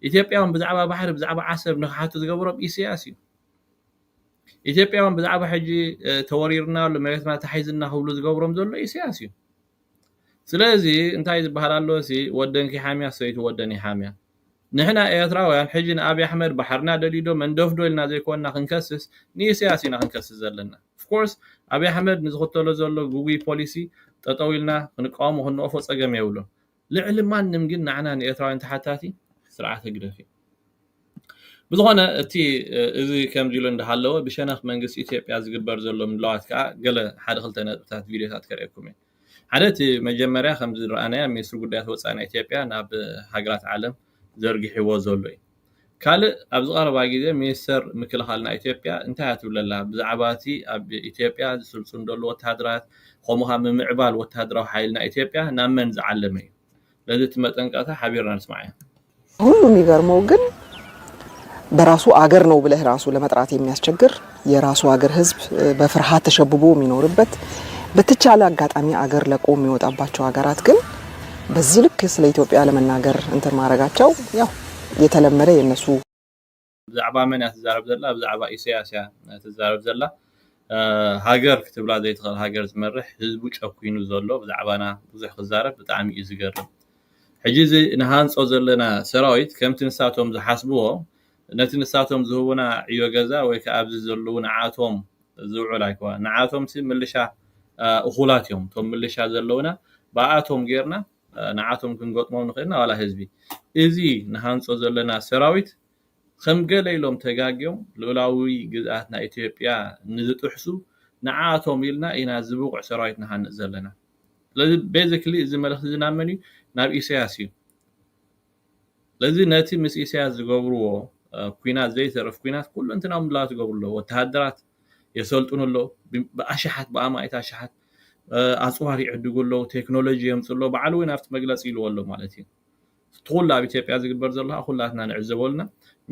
ኢትዮጵያውያን ብዛዕባ ባሕሪ ብዛዕባ ዓሰብ ንክሓቱ ዝገበሮም ኢሰያስ እዩ። ኢትዮጵያውያን ብዛዕባ ሕጂ ተወሪርና ኣሎ መሬትና ተሓይዝና ክብሉ ዝገብሮም ዘሎ ኢሰያስ እዩ። ስለዚ እንታይ ዝበሃል ኣሎ ሲ ወደንኪ ሓምያ ሰይቲ ወደን ይሓምያ ንሕና ኤርትራውያን ሕጂ ንኣብይ ኣሕመድ ባሕርና ደልዩዶ መንደፍዶ ኢልና ዘይኮንና ክንከስስ ንኢሰያስ ኢና ክንከስስ ዘለና ኦፍኮርስ ኣብይ ኣሕመድ ንዝኽተሎ ዘሎ ጉጉይ ፖሊሲ ጠጠው ኢልና ክንቃወሞ ክንወፎ ጸገም የብሉን ልዕሊ ማንም ግን ንዓና ንኤርትራውያን ተሓታቲ ስርዓት ህግደፍ እዩ። ብዝኾነ እቲ እዚ ከምዚ ኢሉ እንዳሃለወ ብሸነኽ መንግስቲ ኢትዮጵያ ዝግበር ዘሎ ምድላዋት ከኣ ገለ ሓደ ክልተ ነጥብታት ቪድዮታት ከርእየኩም እየ። ሓደ እቲ መጀመርያ ከምዚ ዝረኣናዮ ሚኒስትሪ ጉዳያት ወጻኢ ናይ ኢትዮጵያ ናብ ሃገራት ዓለም ዘርጊሕዎ ዘሎ እዩ። ካልእ ኣብዚ ቀረባ ግዜ ሚኒስተር ምክልኻል ናይ ኢትዮጵያ እንታይ እያ ትብል ዘላ ብዛዕባ እቲ ኣብ ኢትዮጵያ ዝስልጥኑ ዘለዉ ወተሃደራት ከምኡ ከኣ ምምዕባል ወተሃደራዊ ሓይሊ ናይ ኢትዮጵያ ናብ መን ዝዓለመ እዩ ስለዚ እቲ መጠንቀቕታ ሓቢርና ንስማዓዮ። ከሁሉ የሚገርመው ግን በራሱ አገር ነው ብለህ ራሱ ለመጥራት የሚያስቸግር የራሱ አገር ህዝብ በፍርሃት ተሸብቦ የሚኖርበት በተቻለ አጋጣሚ አገር ለቆ የሚወጣባቸው ሀገራት ግን በዚህ ልክ ስለ ኢትዮጵያ ለመናገር እንትን ማድረጋቸው ያው የተለመደ የነሱ ብዛዕባ መን እያ ትዛረብ ዘላ ብዛዕባ ኢሳያስ እያ ትዛረብ ዘላ ሃገር ክትብላ ዘይትኽእል ሃገር ዝመርሕ ህዝቡ ጨኪኑ ዘሎ ብዛዕባና ብዙሕ ክዛረብ ብጣዕሚ እዩ ዝገርም ሕጂ እዚ ንሃንፆ ዘለና ሰራዊት ከምቲ ንሳቶም ዝሓስብዎ ነቲ ንሳቶም ዝህቡና ዕዮ ገዛ ወይ ከኣ ኣብዚ ዘልዉ ንዓኣቶም ዝውዕል ኣይኮነን። ንዓኣቶምሲ ምልሻ እኹላት እዮም። እቶም ምልሻ ዘለዉና ብኣኣቶም ጌርና ንዓኣቶም ክንገጥሞም ንኽእል ኢና ዋላ ህዝቢ። እዚ ንሃንጾ ዘለና ሰራዊት ከም ገለ ኢሎም ተጋግዮም ልኡላዊ ግዝኣትና ኢትዮጵያ ንዝጥሕሱ ንዓኣቶም ኢልና ኢና እዚ ብቑዕ ሰራዊት ንሃንጽ ዘለና። ስለዚ ቤዚክሊ እዚ መልእኽቲ እዚ ናብ መን እዩ? ናብ ኢሰያስ እዩ። ስለዚ ነቲ ምስ ኢሰያስ ዝገብርዎ ኩናት ዘይተርፍ ኩናት ኩሉንትናዊ ምድላዋት ይገብሩ ኣለዉ። ወተሃደራት የሰልጥኑ ኣለዉ። ብኣሽሓት ብኣማኢት ኣሽሓት ኣጽዋር ይዕድጉ ኣለዉ። ቴክኖሎጂ የምጽኡ ኣለዉ። ባዕሉ እውን ኣብቲ መግለጺ ኢልዎ ኣሎ ማለት እዩ። እቲ ኩሉ ኣብ ኢትዮጵያ ዝግበር ዘሎ ከኣ ኩላትና ንዕዘቦ ኣለና።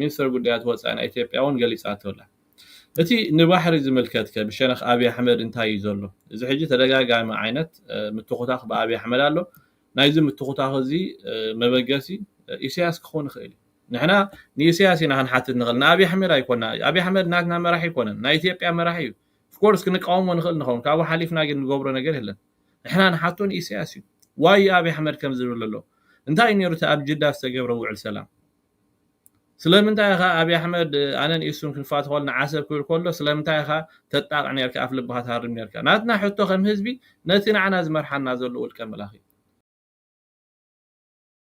ሚኒስተር ጉዳያት ወጻኢ ናይ ኢትዮጵያ እውን ገሊጻቶ ኣላ። እቲ ንባሕሪ ዝምልከትከ ብሸነኽ ኣብይ ኣሕመድ እንታይ እዩ ዘሎ? እዚ ሕጂ ተደጋጋሚ ዓይነት ምትኹታኽ ብኣብይ ኣሕመድ ኣሎ። ናይዚ ምትኹታኽ እዚ መበገሲ ኢሰያስ ክኾን ይኽእል እዩ። ንሕና ንኢሰያስ ኢና ክንሓትት ንኽእል ንኣብይ ኣሕመድ ኣይኮና። ኣብይ ኣሕመድ ናትና መራሒ ኣይኮነን ናይ ኢትዮጵያ መራሒ እዩ። ፍኮርስ ክንቃወሞ ንኽእል ንኸውን ካብኡ ሓሊፍና ግን ንገብሮ ነገር የለን። ንሕና ንሓቶ ንኢሰያስ እዩ። ዋይ ኣብይ ኣሕመድ ከምዚ ይብል ዘሎ እንታይ እዩ ነይሩ እቲ ኣብ ጅዳ ዝተገብረ ውዕል ሰላም? ስለምንታይ ኢኻ ኣብይ ኣሕመድ ኣነን ኢሱን ክንፋቶ ከለና ዓሰብ ክብል ከሎ ስለምንታይ ኢኻ ተጣቕዕ ኔርካ ኣፍ ልብኻ ትሃርም ኔርካ ናትና ሕቶ ከም ህዝቢ ነቲ ንዓና ዝመርሓና ዘሎ ውልቀ መላኺ